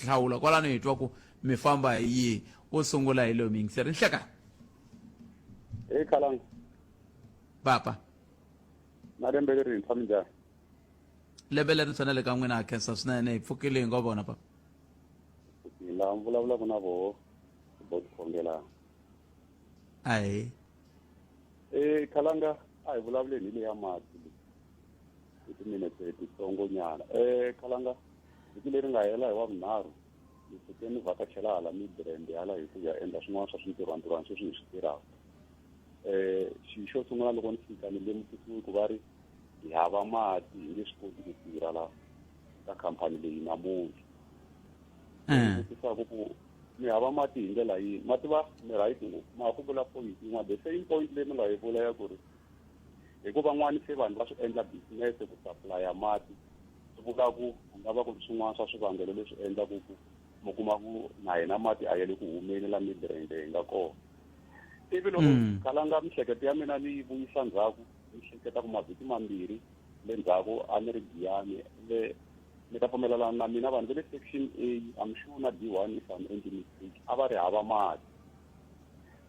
hlawula kwalano hi twa ku mi famba hi yihi wo sungula hi loyi mi yingiseri nhlekani papa na lembe lerintshwa minjhani lembe lerintshwa na le ka n'wina ha khensa swinene hi pfukile hi ngo vona papa laha mi vulavulaka na voho bo tikhongelana ahi e khalanga a hi vulavuleni hi leya mati hi timinete titsongo nyana e khalanga vhiki leri nga hela hi wa vunharhu ni fike ni vhakachela hala midrand hala hi ku ya endla swin'wana swa swintirhwantirhwana sweswi hi swi tirhaka eh xi xo sungula loko ni fika ni lemukisiwe ku va ri hi hava mati hi nge swi koti ku tirha la ka khampani leyi namuntlha eh. vutisaku ku mi hava mati hi ndlela yini mati va mi right ngopfu ma ku vula point yin'wana the same point leyi mi nga yi vula ya ku ri hikuva n'wani se vanhu va swi endla business ku supplya mati swi vula ku ku nga va ku ri swin'wana swa swivangelo leswi endlaku ku mi kuma ku na hina mati a ya le ku humeni la mibrende hi nga kona ivi loko mm. kalanga mihleketo ya mina ni yi vuyisa ndzhaku ni hleketa ku mavhiki mambirhi le ndzhaku a ni ri giyani le ni ta pfumelelana na mina vanhu va le section a am sure na d one if am endli mistake a va ri hava mati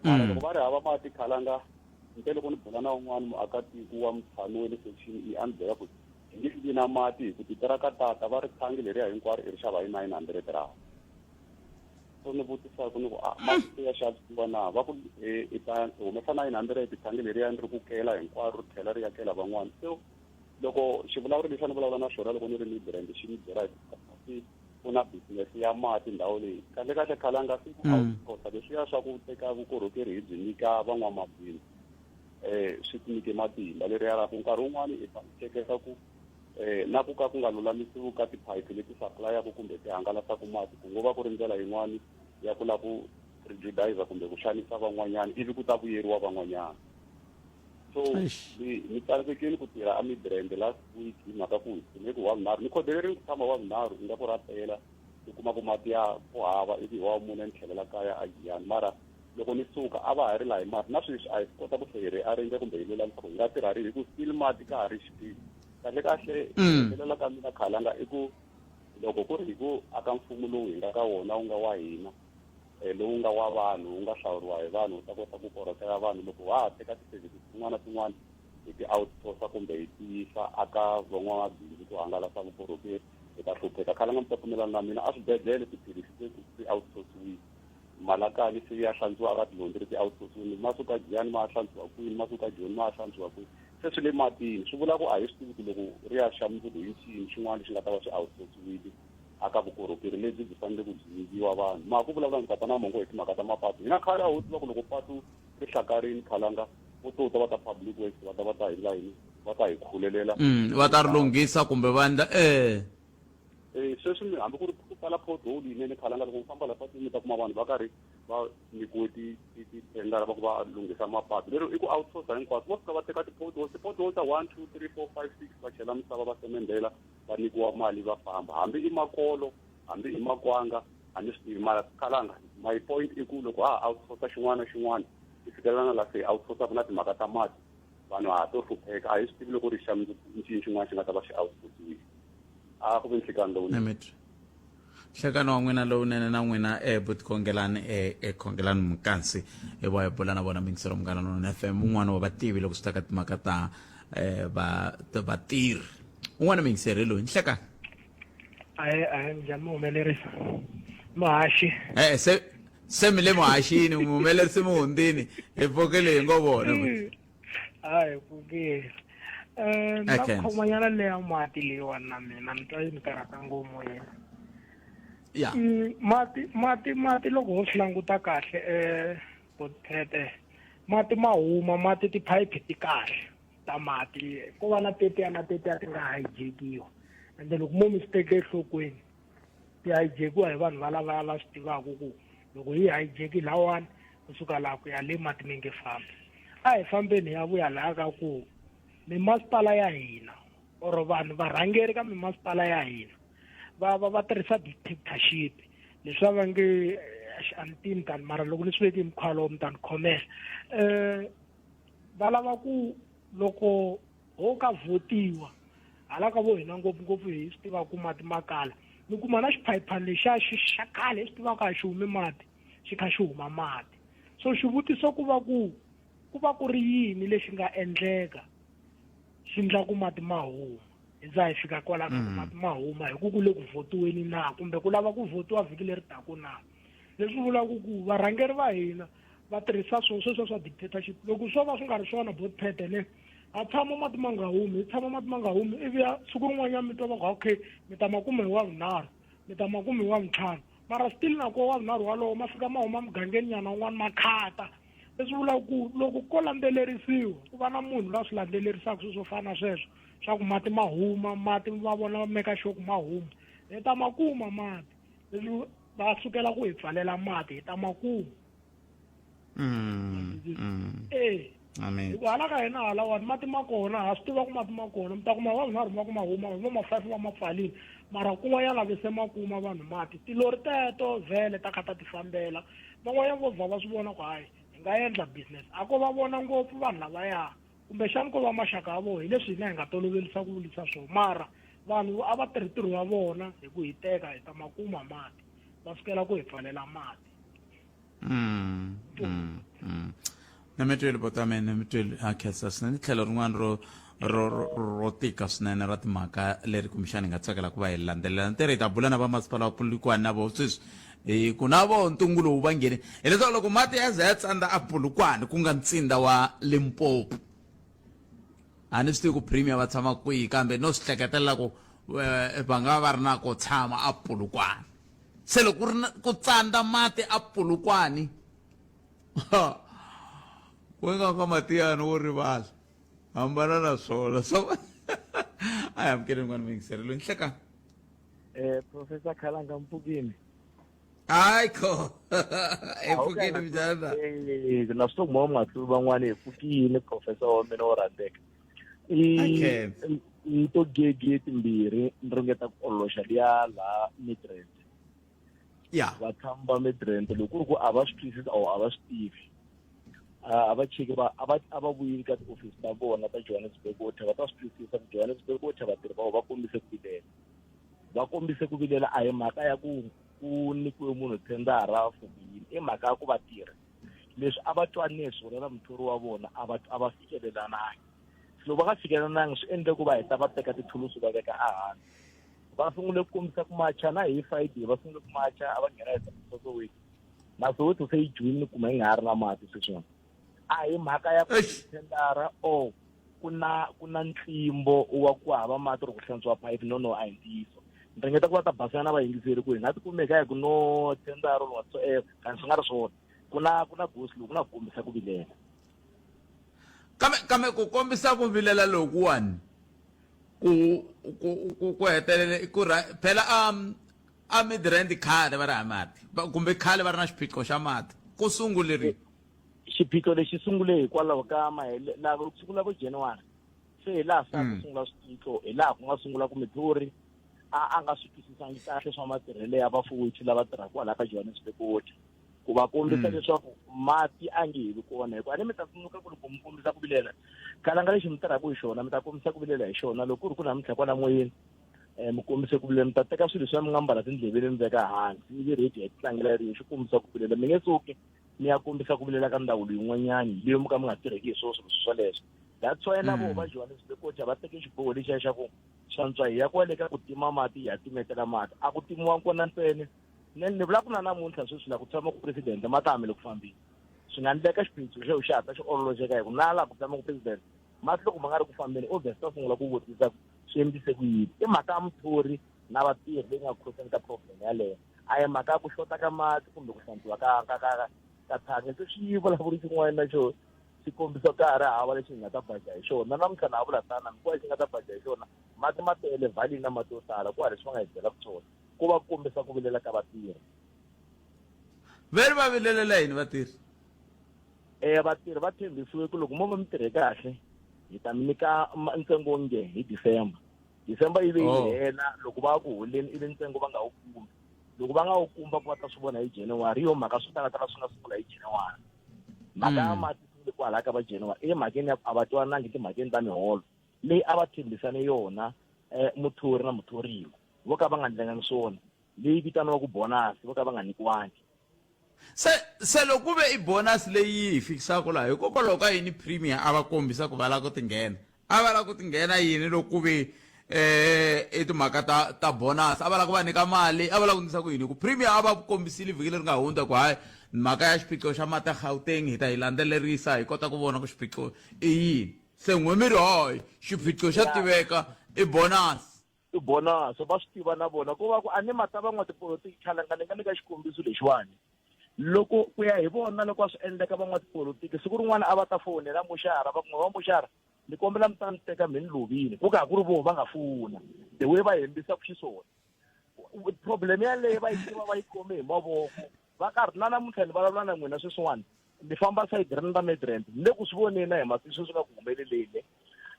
mara mm. loko va ri hava mati khalanga nte loko ni bula na un'wana muakatiko wa mutshami wa le section e a ni byela ku hi nge vi na mati hi ku titira ka tata va ri thangi leriya hinkwaro i ri xava hi nine hundred rand u ni vutisaka ni ku a masiku ya xavisiwa na va ku e, i ta humesa nine hundred thangi leriya ni ri ku kela hinkwaro ri tlhela ri yakela van'wana so loko xivulavuri lexi a ni vulavula na xona loko ni ri ni brand xi ni byela hi ku na business ya mati ndhawu leyi kahle kahle khale a nga si ku mm. outsourca leswiya swa ku teka vukorhokeri hi byi nyika van'wamabindzu um swi ti nyike matimba leri yalaku nkarhi wun'wani i ta hleketa ku eh, na ku ka ku nga lulamisiwi ka tiphayiphi leti saplayaka kumbe ti hangalasaka mati ku ngo va ku ri ndlela yin'wana ya ku lava ku prejudiza kumbe ku xanisa van'wanyana ivi ku ta vuyeriwa van'wanyana so ni tsandzekile ku tirha a midrand last week hi mhaka ku hi tshime ku wavunharhu ni khodeleriwe ku tshama wavunharhu ingaku ra pela i kuma ku mati ya ku hava ivi hi wa mune ni tlhelela kaya a giyani mara loko ni suka a va ha ri laha hi mati na sweswi a hi swi kota ku tlhe hi ri arrange kumbe hi lula leswaku hi nga tirha ri hi ku still mati ka ha ri xiphiqo kahle kahle hetelela ka mina khalanga i ku loko ku ri hi ku aka mfumo lowu hi nga ka wona wu nga wa hina um lowu nga wa vanhu wu nga hlawuriwa hi vanhu wu ta kota ku korhokela vanhu loko wa ha teka ti-services tin'wana na tin'wana hi ti-outsourca kumbe hi tiyisa aka van'wamabindzu ku hangalasa vukorhokeri hi ta hlupheka khalanga mi ta pfumelana na mina a swibedhlele tiphilisi sweswi swi outsourciwile malakani se ya hlantswiwa ka tilondzi leti outsourcini ma suka jiyani ma hlantswiwa kwini ma suka joni ma hlantswiwa kwini se swi le matini swi vula ku a hi swi tivi ku loko ri ya xa mundzuku hi xini xin'wana lexi nga ta va swi outsourciwile a ka vukorhokeri lebyi byi fanele ku byi nyikiwa vanhu ma ku vulavula ndzi tata na mongo hi timhaka ta mapatu hina khale a ho tiva ku loko patu ri hlakarini khalanga vo to ta va ta public works va ta va ta hi layini va ta hi khulelela va ta ri lunghisa kumbe va endla eh Eh, sweswi mi hambi ku ri ku pfala pothole yinene khalanga loko mi famba la patwini mi ta kuma vanhu va karhi va nyikiwe tithendara va ku va lunghisa mapatu lero i ku outsourca hinkwaswo vo fika va teka ti-pothole ti-pothole ta one two three four five six va chela misava va semendela va nyikiwa mali va famba hambi i makolo hambi i makwanga a ni swi tivi mara khalanga my point i ku loko ha ha outsourca xin'wana na xin'wana i fikelela na la se outsourcaka na timhaka ta mati vanhu ha to hlupheka a hi swi tivi loko ri xa nxini xin'wana xi nga ta va xi outputiwe a ku ve nhlikani lowunene nhlekani wa n'wina lowunene na n'wina um eh, butikhongelani um eh, eh, khongelani mukansi hi va hi bula na vona mingiselo munghana lowunene f m un'wana wa vativi loko swi ta ka timhaka ta um vatirhi un'wana mingiseri hi loyi nhlekani a hi a hi njhani muhumelerisi muhaxi e-e se se mi le muhaxini muhumelerisi muhundini hi pfukile hi ngo vona a hi pfukile um na khomanyana leya mati leyiwani na mina ni twa yi ni karhata ngopfu yena ya mm, mati mati mati loko ho swi languta kahle um eh, bothete mati ma huma mati tiphayiphi ti kahle ta mati ko va na tetiya na tetiya ti nga hijekiwa ende loko mo mi swi teke enhlokweni ti hijekiwa hi vanhu va lavaya va swi tivaka ku loko yi hijeki lawani kusuka laha ku ya le mati mi nge fambi a hi fambeni hi ya vuya laha ka ku mimasipala ya hina or vanhu varhangeri ka mimasipala ya hina va va va tirhisa dictatorship leswi va va nge eh, a ni tivi mtani mara loko ni swi veke hi mukhuva lowo mtani khomela um eh, va lava ku loko ho ka vhotiwa hala ka vo hina ngopfungopfu hi swi tiva ku mati ma kala mi kuma na xiphayiphani lexiya xi xa kale hi swi tivaka a xi humi mati xi kha xi huma mati so xivutiso ku va ku ku va ku ri yini lexi nga endleka xi ndla ku mati ma huma hi za hi fika kwala ka ku mm. mati ma huma hi ku ku le ku votiweni na kumbe ku lava ku votiwa vhiki leri taku na leswi vulaka ku varhangeri va hina va tirhisa swo sweswo swa dictatorship loko swo va swi nga ri swona both pete ne a tshama mati ma nga humi i tshama mati ma nga humi ivi ya siku rin'wanyana mi twa va ku okay mi ta makume hi wa vunharhu mi ta makume hi wa vuntlhanu mara still nako wa vunharhu walowo ma fika ma huma mugangeni nyana un'wana ma khata leswi vulaka ku loko ko landzelerisiwa ku va na munhu la swi landzelerisaka sweswo fana sweswo swa ku mati ma huma mati va vona va meka xoku ma huma hi ta ma kuma mati leswi va sukela ku hi pfalela mati hi ta makumu mm, mm. e hikuva hala ka hina halawani mati ma kona ha swi tiva ku mati ma kona mi ta kuma vanhu nharhu va ku ma huma vanhu va ma-five va ma pfalini mara kun'wa ya lave se ma kuma vanhu mati tilori teto vhele ta kha ta ti fambela van'wanyana vo vha va swi vona ku hayi hi nga endla business a ko va vona ngopfu vanhu lavaya kumbexani ko va maxaka ya vona hi leswi hina hi nga tolovelisa ku vulisa swo mara vanhu a va tirhi ntirho wa vona hi ku hiteka hi ta makuma mati va sukela ku hi pfalela mati mm, mm, mm. na mi tweli bota mina mi tweli a khensa swinene ni tlhelo rin'wana ro ro ro tika swinene ra timhaka leri kumbexana hi nga tsakela ku va hi landzelela ntirho hi ta bula na vamasipala wa pulikwani na vo sweswi Hi ku na vo ntungu lowu va nghene hileswaku loko mati ya za ya tsandza a Polokwane ku nga ntsinda wa Limpopo a ni swi tivi ku premier va tshama kwihi kambe no swi hleketelela ku eh, va nga va ri na ko tshama a Polokwane se loko ku ri na- ku tsandza mati a Polokwane ku nga ka matiyani wo rivala hambana na swona so I am kidding n'wana muyingiseri loyi nhleka Eh, Professor Khalanga Mpugini. haikho ephukeni mnjana Eh, na swi tiva matlulu van'wana hi pfukile professor wa mina wo rhandzeka Okay. ni to gege timbirhi ni ringeta ku ololoxa liya laha midrand ya vatshami va midrand loko ku ri ku a va swi twisisi or a va swi tivi a a va cheki va a va a va vuyeli ka tiofisi ta vona ta johannesburg water va ta swi twisisa ku johannesburg water vatirhi va vona va kombise ku vilela va kombise ku vilela a hi mhaka ya ku ku nyikiwe munhu thendara for ku yini i mhaka ya ku va tirha leswi a va twanile hi swona na muthori wa vona a va a va fikelelanangi loko va nga fikelelanangi swi endle ku va heta va teka tithulusi va veka ehansi va sungule ku kombisa ku macha na hi friday va sungule ku macha a va nghena hi soweto na soweto se yi dyiwile ni kuma yi nga ha ri na mati sweswiwani a hi mhaka ya ku tendara o ku na ku na ntlimbo wa ku hava mati ri ku hlantswa phayiphi no no a hi ntiyiso ni ringeta ku va ta basana na vayingiseri ku hi nga ti kumeka hi ku no tendara or whatsoever kanti swi nga ri swona ku na ku na gosi loku ku na ku kombisa ku vilela kambe kambe ku kombisa ku vilela lokuwani ku ku ku ku hetelele ku phela um A Midrand khale va ri hava mati va- kumbe khale va ri na xiphiqo xa mati ku sungule ri xiphiqo lexi sungule hikwalaho ka mahele laha ku sungula vo january se hi laha se a ku Mm. sungula swiphiqo hi laha ku nga sungula ku midluri a a nga swi twisisangi kahle swa matirhelo ya vafuwethu lava tirhaka kwalaha ka johannesburg water ku va kombisa Mm. leswaku mati a nge he vi kona hikuva a ni mi ta tsundzuka ku loko mi kombisa ku vilela kalanga lexi mi tirhaka hi xona mi ta kombisa ku vilela hi xona loko ku ri ku namuntlha kwala moyeni um mi kombise ku vilela mi ta teka swilo swa mi nga mbala tindleveni mi veka hansi ivi rhedi ya titlangela yi ri yexe kombisa ku vilela mi nge suki mi ya kombisa ku vilela ka ndhawu leyin'wanyani leyo mi ka mi nga tirheki hi swona swilo swoleswo that's why na mm. vona va johannes bekoja va teke xiboho lexiya xa ku swantswa hi ya kwale ka ku tima mati hi ya timetela mati a ku timiwa kona ntsene ne ni vula ku na namuntlha sweswi la ku tshama ku presidente ma ta hamele ku fambile swi nga ndleka xiphiqo xo xi hatla xi ololoxeka hi ku na laha ku tshama ku presidente mati loko ma nga ri ku fambeni obvious ta sungula ku vutisa ku swi endlise ku yini i mhaka ya muthori na vatirhi leyi nga khoseni ka problem yaleyo a hi mhaka ya ku xota ka mati kumbe ku hlantswiwa ka ka ka ka thangi se swi vulavuri xin'wana na xo swi kombisa ka ha ri hava lexi hi nga ta baja hi xona namuntlha na ha vula tana mi ku va xi nga ta baja hi xona mati ma tele valini na mati yo tala ku ha leswi va nga hi byelaka swona ku va kombisa ku vilela ka vatirhi veri va vilelela yini vatirhi e vatirhi va tshembisiwe ku loko mo va mi tirhe kahle hi ta mi nyika ma- ntsengo wo nge hi december december yi ve yi Oh. hela loko va ku holeni i ve ntsengo va nga wu kumi loko va nga wu kumi va ku va ta swi vona hi january hi yo mhaka swi talatala swi nga sungula hi january mhaka ya Mm. mati sungule kwalaya ka va january i mhakeni ya ku a va twanangi timhakeni ta miholo leyi a va tshembisane yona um muthori na muthoriwa vo ka va nga ndlengangi swona leyi vitaniwaku bonasi vo ka va nga nyikiwangi Se, se loko ku ve i bonus leyi yi hi fikisaka laha hikokwalaho ka yini premier a va kombisa ku va lava ku tinghena a va lava ku tinghena yini loko ku ve eh i timhaka ta ta bonus a va lava ku va nyika mali a va lava ku ndlisa ku yini ku premier a va kombisile vhiki leri nga hundza ku hayi mhaka ya xiphiqo xa mati ya gauteng hi ta yi landzelerisa hi kota ku vona ku xiphiqo i yini se n'wemiri hoy xiphiqo xa tiveka i bonus ti bonasa va swi tiva na vona ko va ku a ni ma ta van'wa tipolotiki khalanga ni nga nyika xikombiso lexiwani loko ku ya hi vona loko a swi endleka van'wa tipolotiki siku rin'wana a va ta fowunela muxara va kun'we va muxara ni kombela mi ta ni teka mi ni lovile ku ka ha ku ri voho va nga fowuna the way va hembisa ku xiswona problem yaleyo va yi tiva va yi khome hi mavoko va karhi na namuntlha ni vulavula na n'wina sweswiwani ni famba side rini ra midrand ni le ku swi voneni hi masiku sweswi nga ku humeleleni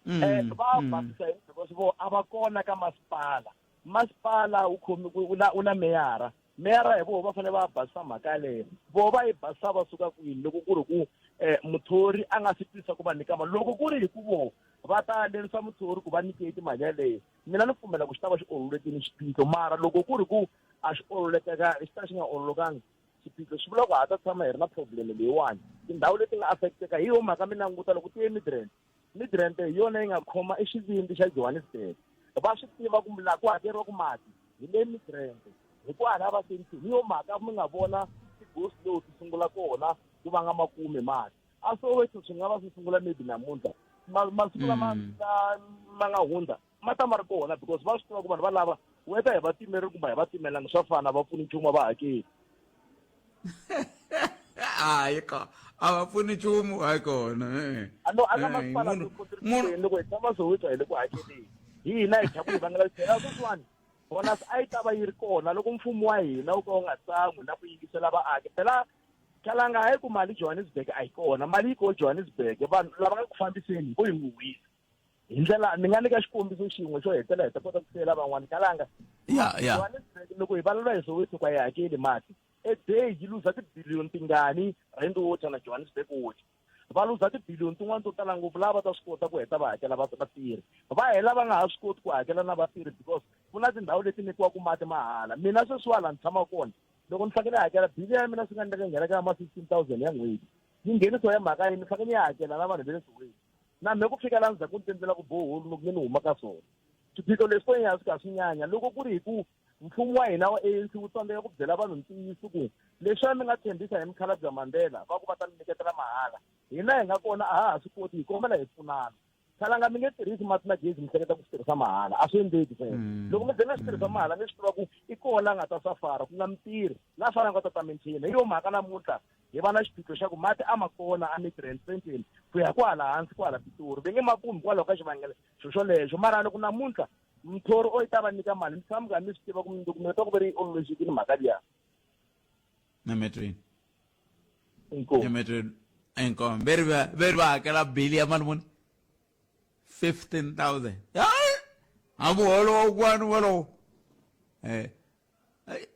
um eh, va mm. basisa hi because vo a va kona ka masipala masipala wu khomi u na u na meyara meyara hi voho va fanele va basisa mhaka yaleyo voho va yi basisa va suka kwini loko ku ri ku um muthori a nga swi tisa ku va nyika mali loko ku ri hi ku voho va ta lerisa muthori ku va nyike timali yaleyo mina ni pfumela ku xi ta va xi ololetini xiphiqo mara loko ku ri ku a xi ololekaka xi ta xi nga ololokangi xiphiqo swi vula ku ha ta tshama hi ri na problem leyiwani tindhawu leti nga affecteka hi yo mhaka mi languta loko ti ye midrand midrand hi yona yi nga khoma i xivindzi xa johannesburg va swi tiva ku laha ku hakeriwa ku mati hi le midrand hi ku hala va senti hi yo mhaka mi nga vona ti-ghost low ti sungula kona ku va nga makume mati a soweto swi nga va swi sungula maybe namuntlha masiku lama mm. ma nga hundza ma ta ma ri kona because va swi tiva ku vanhu va lava whether hi va timeri kumbe hi va timelanga swa fana va pfuni nchumu a va hakeli hayi ka a va pfuni nchumu hayi kona eh. ano a ka eh, masipala loko hi tshama soweto hi le ku hakeleni hi hina hi tlhaku hi vangela tlhela sweswiwani bonus a yi ta va yi ri kona loko mfumo wa hina wu ka wu nga tsan'wi na ku yingisela vaaki phela khalanga hayi ku mali johannesburg a yi kona mali yi ko johannesburg vanhu lava nga ku fambiseni vo yi huhisa hi ndlela ni nga nyika xikombiso xin'we xo hetela hi ta kota ku siyela van'wana kalanga ya ya loko hi valula hi soweto ku a yi hakeli mati a day yi luza tibiliyoni tingani rand water na johannesburg water va luza tibiliyoni tin'wana to tala ngopfu lava va ta swi kota ku heta va hakela vatirhi va hela va nga ha swi koti ku hakela na vatirhi because ku na tindhawu leti nyikiwaka mati mahala mina sweswiwa laha ni tshama kona loko ni fanekele hakela bili ya mina swi nga ndleka nghena ka ma fifteen thousand ya n'hweti yi ngheniso ya mhaka yini ni fanekele ni ya hakela na vanhu ve le soweto na me ku fika la ndzhaku ni tendlela ku boholu loko ni ni huma ka swona swiphiqo leswi ko ya swi ka swi nyanya loko ku ri hi ku mfumo wa hina wa anc wu tsandzeka ku byela vanhu ntiyiso ku leswiya mi nga tshembisa hi mikhala bya mandela va ku va ta mi nyiketela mahala hina hi nga kona a ha ha swi koti hi kombela hi pfunana khalanga mi nge tirhisi mati na gezi mi hleketa ku swi tirhisa mahala a swi endleki sweswo mm. loko mi ze mi swi tirhisa mm. mahala mi swi tiva ku i kona a nga ta safara ku nga mitirhi na fana nga ta ta minchina hi yo mhaka namuntlha hi va na xiphiqo xa ku mati a ma kona a midrain centeni ku ya kwahala hansi kwahala pitori ve nge ma kumi hikwalaho ka xivangelo xo xolexo mara loko namuntlha mthori o yi ta va nyika mali mi tshama mi karhi mi swi tiva ku mindokumento ku ve ri yi ololoxekile mhaka liya nametweni nametweni inkomo ve ri va ve ri va hakela bili ya mali muni fifteen thousand a muholo wa kwani wolowo um eh,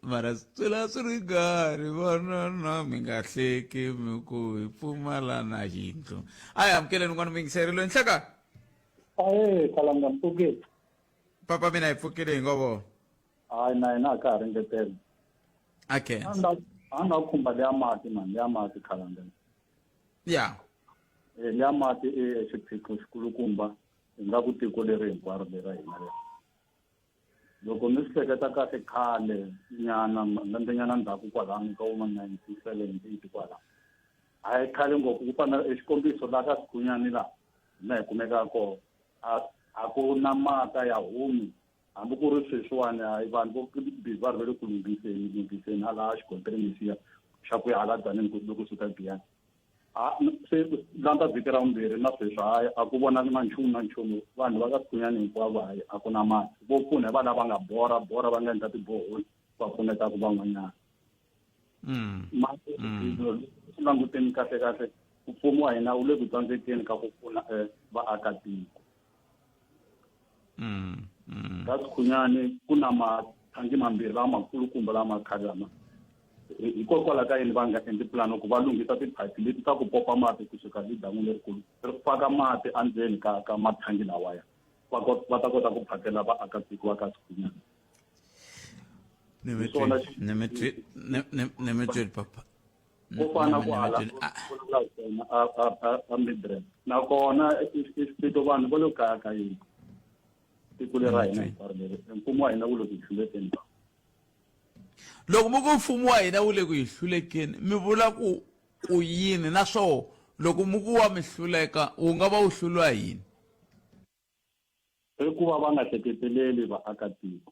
mara swi la swi ri karhi vanana mi nga hleki mi ku hi pfumala na yindlu a hi amukeleni n'wana mi yingiseri loyi nhlaka ae kalanga mpfuke papa mina hi pfukile hi ngovo hayi na hina a ka ha ringetela okay a nga khumba leya mati mani leya mati kalanga ya eh, leya mati i xiphiqo xikulukumba hi nga ku tiko leri hinkwaro lera hina leri Loko mi swi hleketa kahle khale nyana malembenyana ndzhaku kwalano ka vo ma nineteen seventy eight kwala a hi khale ngopfu ku fana e xikombiso laha ka sigunyani laha hina hi kumeka kona a a ku na mata ya humi hambi ku ri sweswiwani hayi vanhu vo bizi va rivele ku lunghiseni lunghiseni a laha xikontiri lexiya xa ku ya hala dzaneni ku loko suka biyani ha se landza vhiki ra vumbirhi na sweswi hayi a ku vonaki na nchumu na nchumu vanhu va ka sikunyani hinkwavo hayi a ku na mati vo pfuna hi va lava nga bora bora va nga endla tiboholi va pfunetaka van'wanyana mm. mati mm. swi languteni kahle kahle mfumo wa hina wu le ku tsandzekeni ka ku pfuna eh, vaakatiko Mm, mm. kasi khunyani ku na mathangi mambirhi lamakulukumba lama khari lama hikokwalaho ka yini va nga endli pulani ku va lunghisa tiphayiphi leti ta ku popa mati kusuka hi dan'wini lerikulu ri faka mati endzeni ka ka mathangi lawaya va va ta kota ku phakela vaakatiko va ka sikhunyana ni mi twi ni mi twi ni mi twi papa ko fana kwala a midress nakona xipito vanhu va lo kaya ka yini tiko leri ra hina hinkwaro leri mfumo wa hina wu le ku hlulekeni loko mi ku mfumo wa hina wu le ku hi hlulekeni mi vula ku ku yini naswoho loko mi ku wa mi hluleka wu nga va wu hluriwa yini I ku va va nga hleketeleli vaakatiko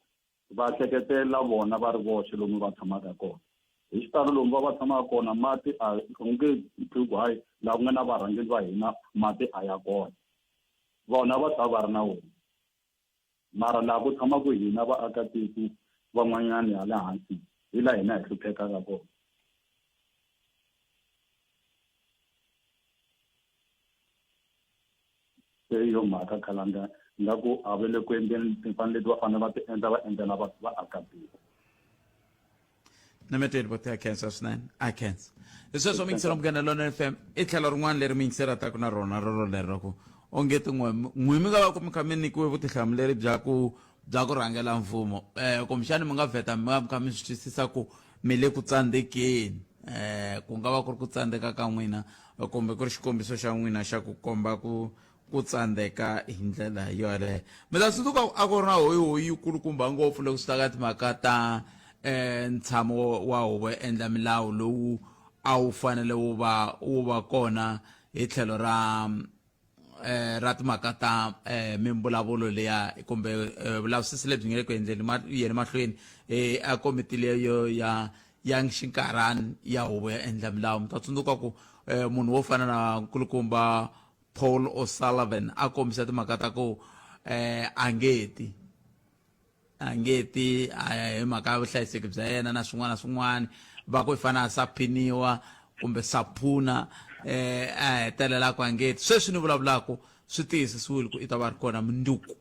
va hleketelela vona va ri voxe lomu va tshamaka kona hi xitalo lomu va va tshamaka kona mati a u nge twi ku hayi laha ku nga na varhangeri va hina mati a ya kona vona va tshava va ri na wona mara laha ku tshamaka hina vaakatiko van'wanyana ya le hansi hi laha hina hi hluphekaka kona Se hi yo mhaka khalanga nga ku a va le ku endleni timfanelo leti va fanele va ti endla va endlela va vaakatiko nameteli vo tea khensa swinene a khensa hi sweswo mi yingisela munghana lona f m i tlhelo rin'wana leri mi yingiselataka na rona roro lero ku onge tin'we n'wi mi nga va ku mi kha mi nyikiwe vutihlamuleri bya ku bya ku rhangela mfumo um kumbexani mi nga vheta mi nga mi kha mi swi twisisa ku mi le ku tsandzekeni eh, ku nga va ku ri ku tsandzeka ka n'wina kumbe ku ri xikombiso xa n'wina xa ku komba ku ku tsandzeka hi ndlela yoleyo mi ta tsundzuka a ku ri na hoyihoyi yikulukumba ngopfu loko swi ta ka timhaka ta um ntshamo wa huvo ya endla milawu lowu a wu fanele wu va wu va kona hi tlhelo ra eh, ra timhaka ta eh, mimbulavulo leya kumbe eh, vulavisisi lebyi nga le ku endleni ma, yeni mahlweni eh, a komiti leyo ya ya xinkarhani ya huvo ya endla milawu mi ta tsundzuka ku eh, munhu wo fana na nkulukumba paul o'sullivan a kombisa timhaka ta ku eh, a nge ti a nge ti a hi mhaka ya vuhlayiseki bya yena na swin'wana na swin'wana va ku i fana a saphiniwa kumbe saphuna eh a hetelelaka a nge ti sweswi ni vulavulaka swi tiyisisiwile ku i ta va ri kona munduku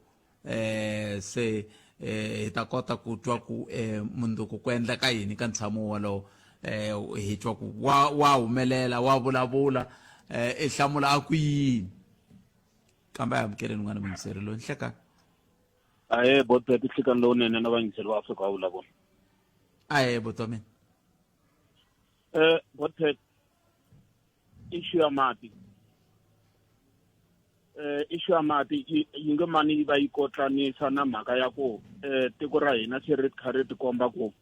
eh se eh hi ta kota ku twa ku eh munduku ku endleka yini ka ntshamo wolowo eh hi twa ku wa wa humelela wa vulavula eh i hlamula a ku yini kambe a amukeleni n'wana mungiseri loyi nhlekani ahe bot phephi nhlikani lowunene na vayingiseli va afrika wa vulavula ahe bot wa mina um eh, bot phephi issue ya mati eh issue ya mati yi nge mani yi va yi kotlanisa na mhaka ya ku eh tiko ra hina se ri kha ri tikomba ku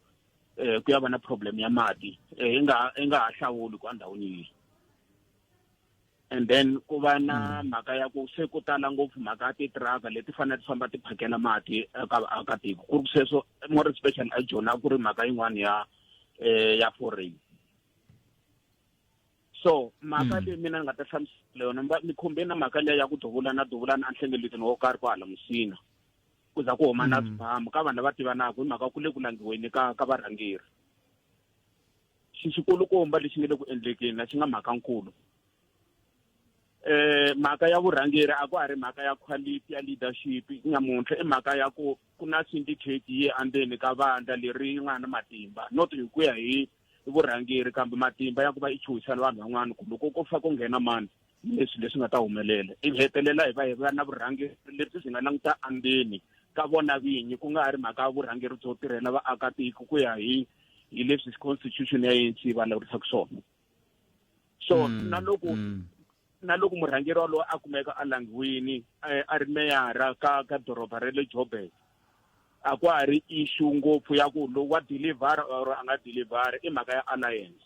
eh ku ya va na problem ya mati eh inga inga ha hlawuli ku andhawini yihi and then ku va na mm. mhaka ya ku se ku tala ngopfu mhaka ya titiraka leti fanele ti famba ti phakela mati eka vaakatiko ku ri ku sweswo more special a jona ku ri mhaka yin'wana ya um ya foreign so mhaka mm. leyi mina ni nga ta hlamusela yona ni khombe na mhaka leyi ya ku duvulana duvulana enhlengeletini wo karhi ku hala musina ku za ku huma na mm. swibamu ka vanhu lava tivanaka hi mhaka ku le ku langiweni ka ka varhangeri xi xikulukumba lexi nga le ku endlekeni a xi nga mhaka nkulu eh mhaka ya vurhangeri a ku a ri mhaka ya quality ya leadership nyamuntlha i mhaka ya ku ku na syndicate yi andzeni ka vandla leri nga na matimba not hi ku ya hi vurhangeri kambe matimba ya ku va i chuhisela vanhu van'wana ku loko ko fa ku nghena mani leswi leswi nga ta humelela ivi hetelela hi va hi va na vurhangeri lebyi byi nga languta andzeni ka vona vinyi ku nga ha ri mhaka vurhangeri byo tirhela vaakatiko ku ya hi hi leswi constitution ya ANC va lavurisaka swona so mm, na loko mm. na loko murhangeri walowo a kumeka a langiwini eh, a ri meyara ka ka doroba ra le joburg a ku ha ri issue ngopfu ya ku lowu wa deliver or a nga deliver i mhaka ya alliance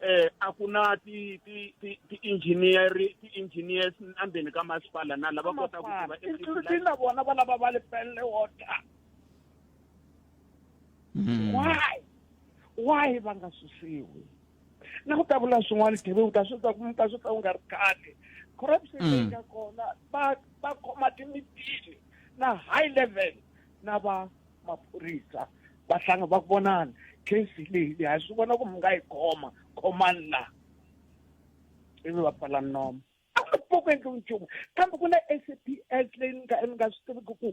eh a ku na ti ti ti ti engineer ti engineers endzeni ka masipala na lava kota ku tiva including na vona va lava va le pelle water hmm. why why va nga susiwi na ku ta vula swin'wana tv u ta swi ta ku ta swi ta u nga ri khale corruption leyi hmm. nga kona va va khoma timitini na high level na va maphorisa va hlanga va vonana case leyi leyi ha swi vona ku mi nga yi khoma khomani laha ivi va pfala nomo a nga pfuki ku endliwi nchumu kambe ku na s p s leyi ni nga ni nga swi tiviki ku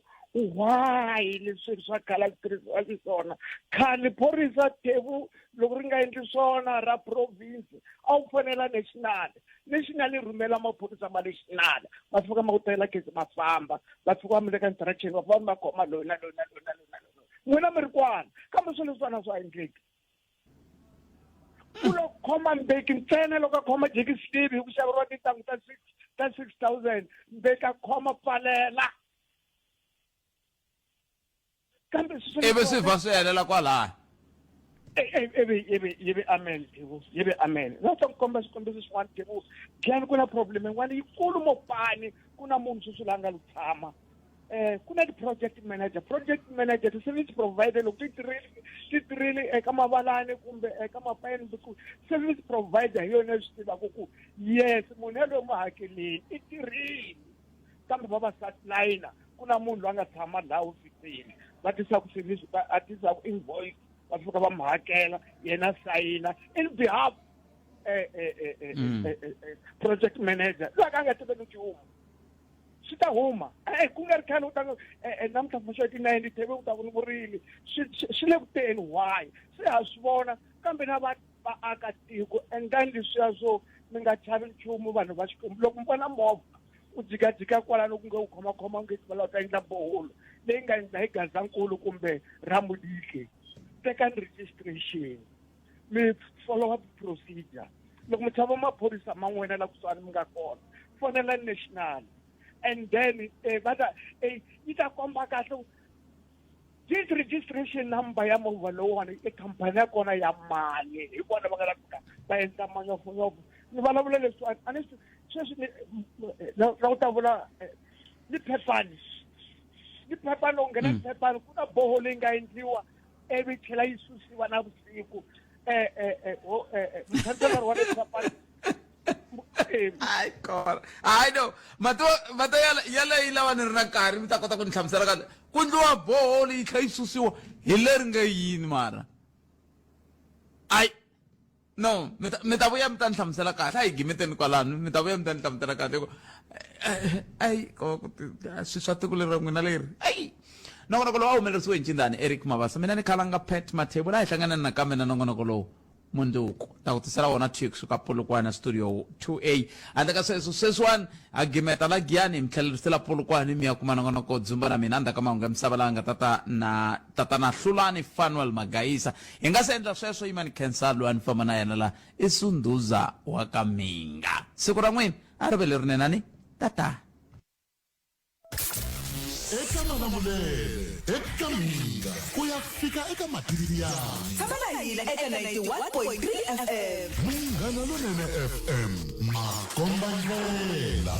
why leswi swa khala swi tirhisiwa xiswona khale phorisa thevu loko ri nga endli swona ra province a wu fonela national national yi rhumela maphorisa ma national ma fika ma ku tela case ma famba va fika va mu veka instruction va va mi va khoma loyi na loyi na loyi na loyi na loyi n'wina mi ri kwana kambe swilo leswana swa endleki ku lo khoma mbeki ntsena loko a khoma jeki slivi hi ku xaveriwa tintangu ta six ta six thousand mbeki a khoma pfalela kambe ivi swi vha swi helela kwalaya ivi ivi ivi amen devo ivi amen na ta ku komba swikombiso swin'wana devo gani ku na problem yin'wana yikulu mo pani ku na munhu sweswi la nga lu tshama um ku na ti-project manager project manager ti-service provider loko ti tirhile ti tirhile eka mavalani kumbe eka mapayeni ku service provider hi yona yi swi tivaka ku yes munhu yaloyo mu hakeleni i tirhile kambe vavasati na yina ku na munhu loyi a nga tshama laha hofisini va tisa ku swivisi a tisa ku invoice va fika va mi hakela yena sayina in behalf eh, eh, eh, mm. project manager loyi ka a nga tiveki nchumu swi ta huma e ku nga ri khale u ta namuntlha mfuxa ti nine teve u ta ku ni vurimi swi le kuteni why se ha swi vona kambe na va vaakatiko endlani leswiya swo mi nga chavi nchumu vanhu va xikwembu loko mi vona movha u jikajika kwalano ku nge u khomakhoma u nge tivela u ta endla boholo leyi nga endla hi gazankulu kumbe ramudike tekani registration mi follow up procedure loko mi chava maphorisa ma n'wina la kusuhani mi nga kona fonela national and then eh, va ta eh, yi ta komba kahle deed registration number ya movha lowuwani i khampani ya kona ya mali hi vona va nga la fika va endla manyofonyofu ni vulavula leswi a ni sweswi na ku ta vula eh, ni phepani ni phepani loko nghena ni mm. phepani ku na boho leyi nga endliwa ivi tlhela yi susiwa na vusiku um eh, eh, muthandzela ri wa ni phepani ai kona ai no mato mato yala yala yi lava ni ri na nkarhi mi ta kota ku ni hlamusela ka ku ndliwa boholo yi tlha yi susiwa hi leri nga yini mara ai no mi ta mi ta vuya mi ta ni hlamusela kahle a hi gimeteni kwalano mi ta vuya mi ta ni hlamusela kahle ku ai swi swa tiko leri ra n'wina leri ai nongonoko lowu a humelerisiwe hi ncindani eric mavasa mina ni khalanga pat mathebula a hi hlanganani nakambe na nongonoko lowu mundzuku ta ku tisela wona two kusuka polokwane studio 2a handle ka sweswo sweswiwani a gimeta la giyani hi mi tlhelerisela polokwane mi ya kuma nongonoko dzumba na mina ndzhaku ka mahungu ya misava laha nga tata na tata na hlulani fanuel magayisa hi nga se endla sweswo yimani khensa loyi a ni famba na yena la i sundhuza wa ka minga siku ra n'wina a ri ve lerinenani tata eka malamulele eka mina ku ya fika eka mativi yanyu tshama na hina eka 91.3 fm munghana lonene fm makombandlela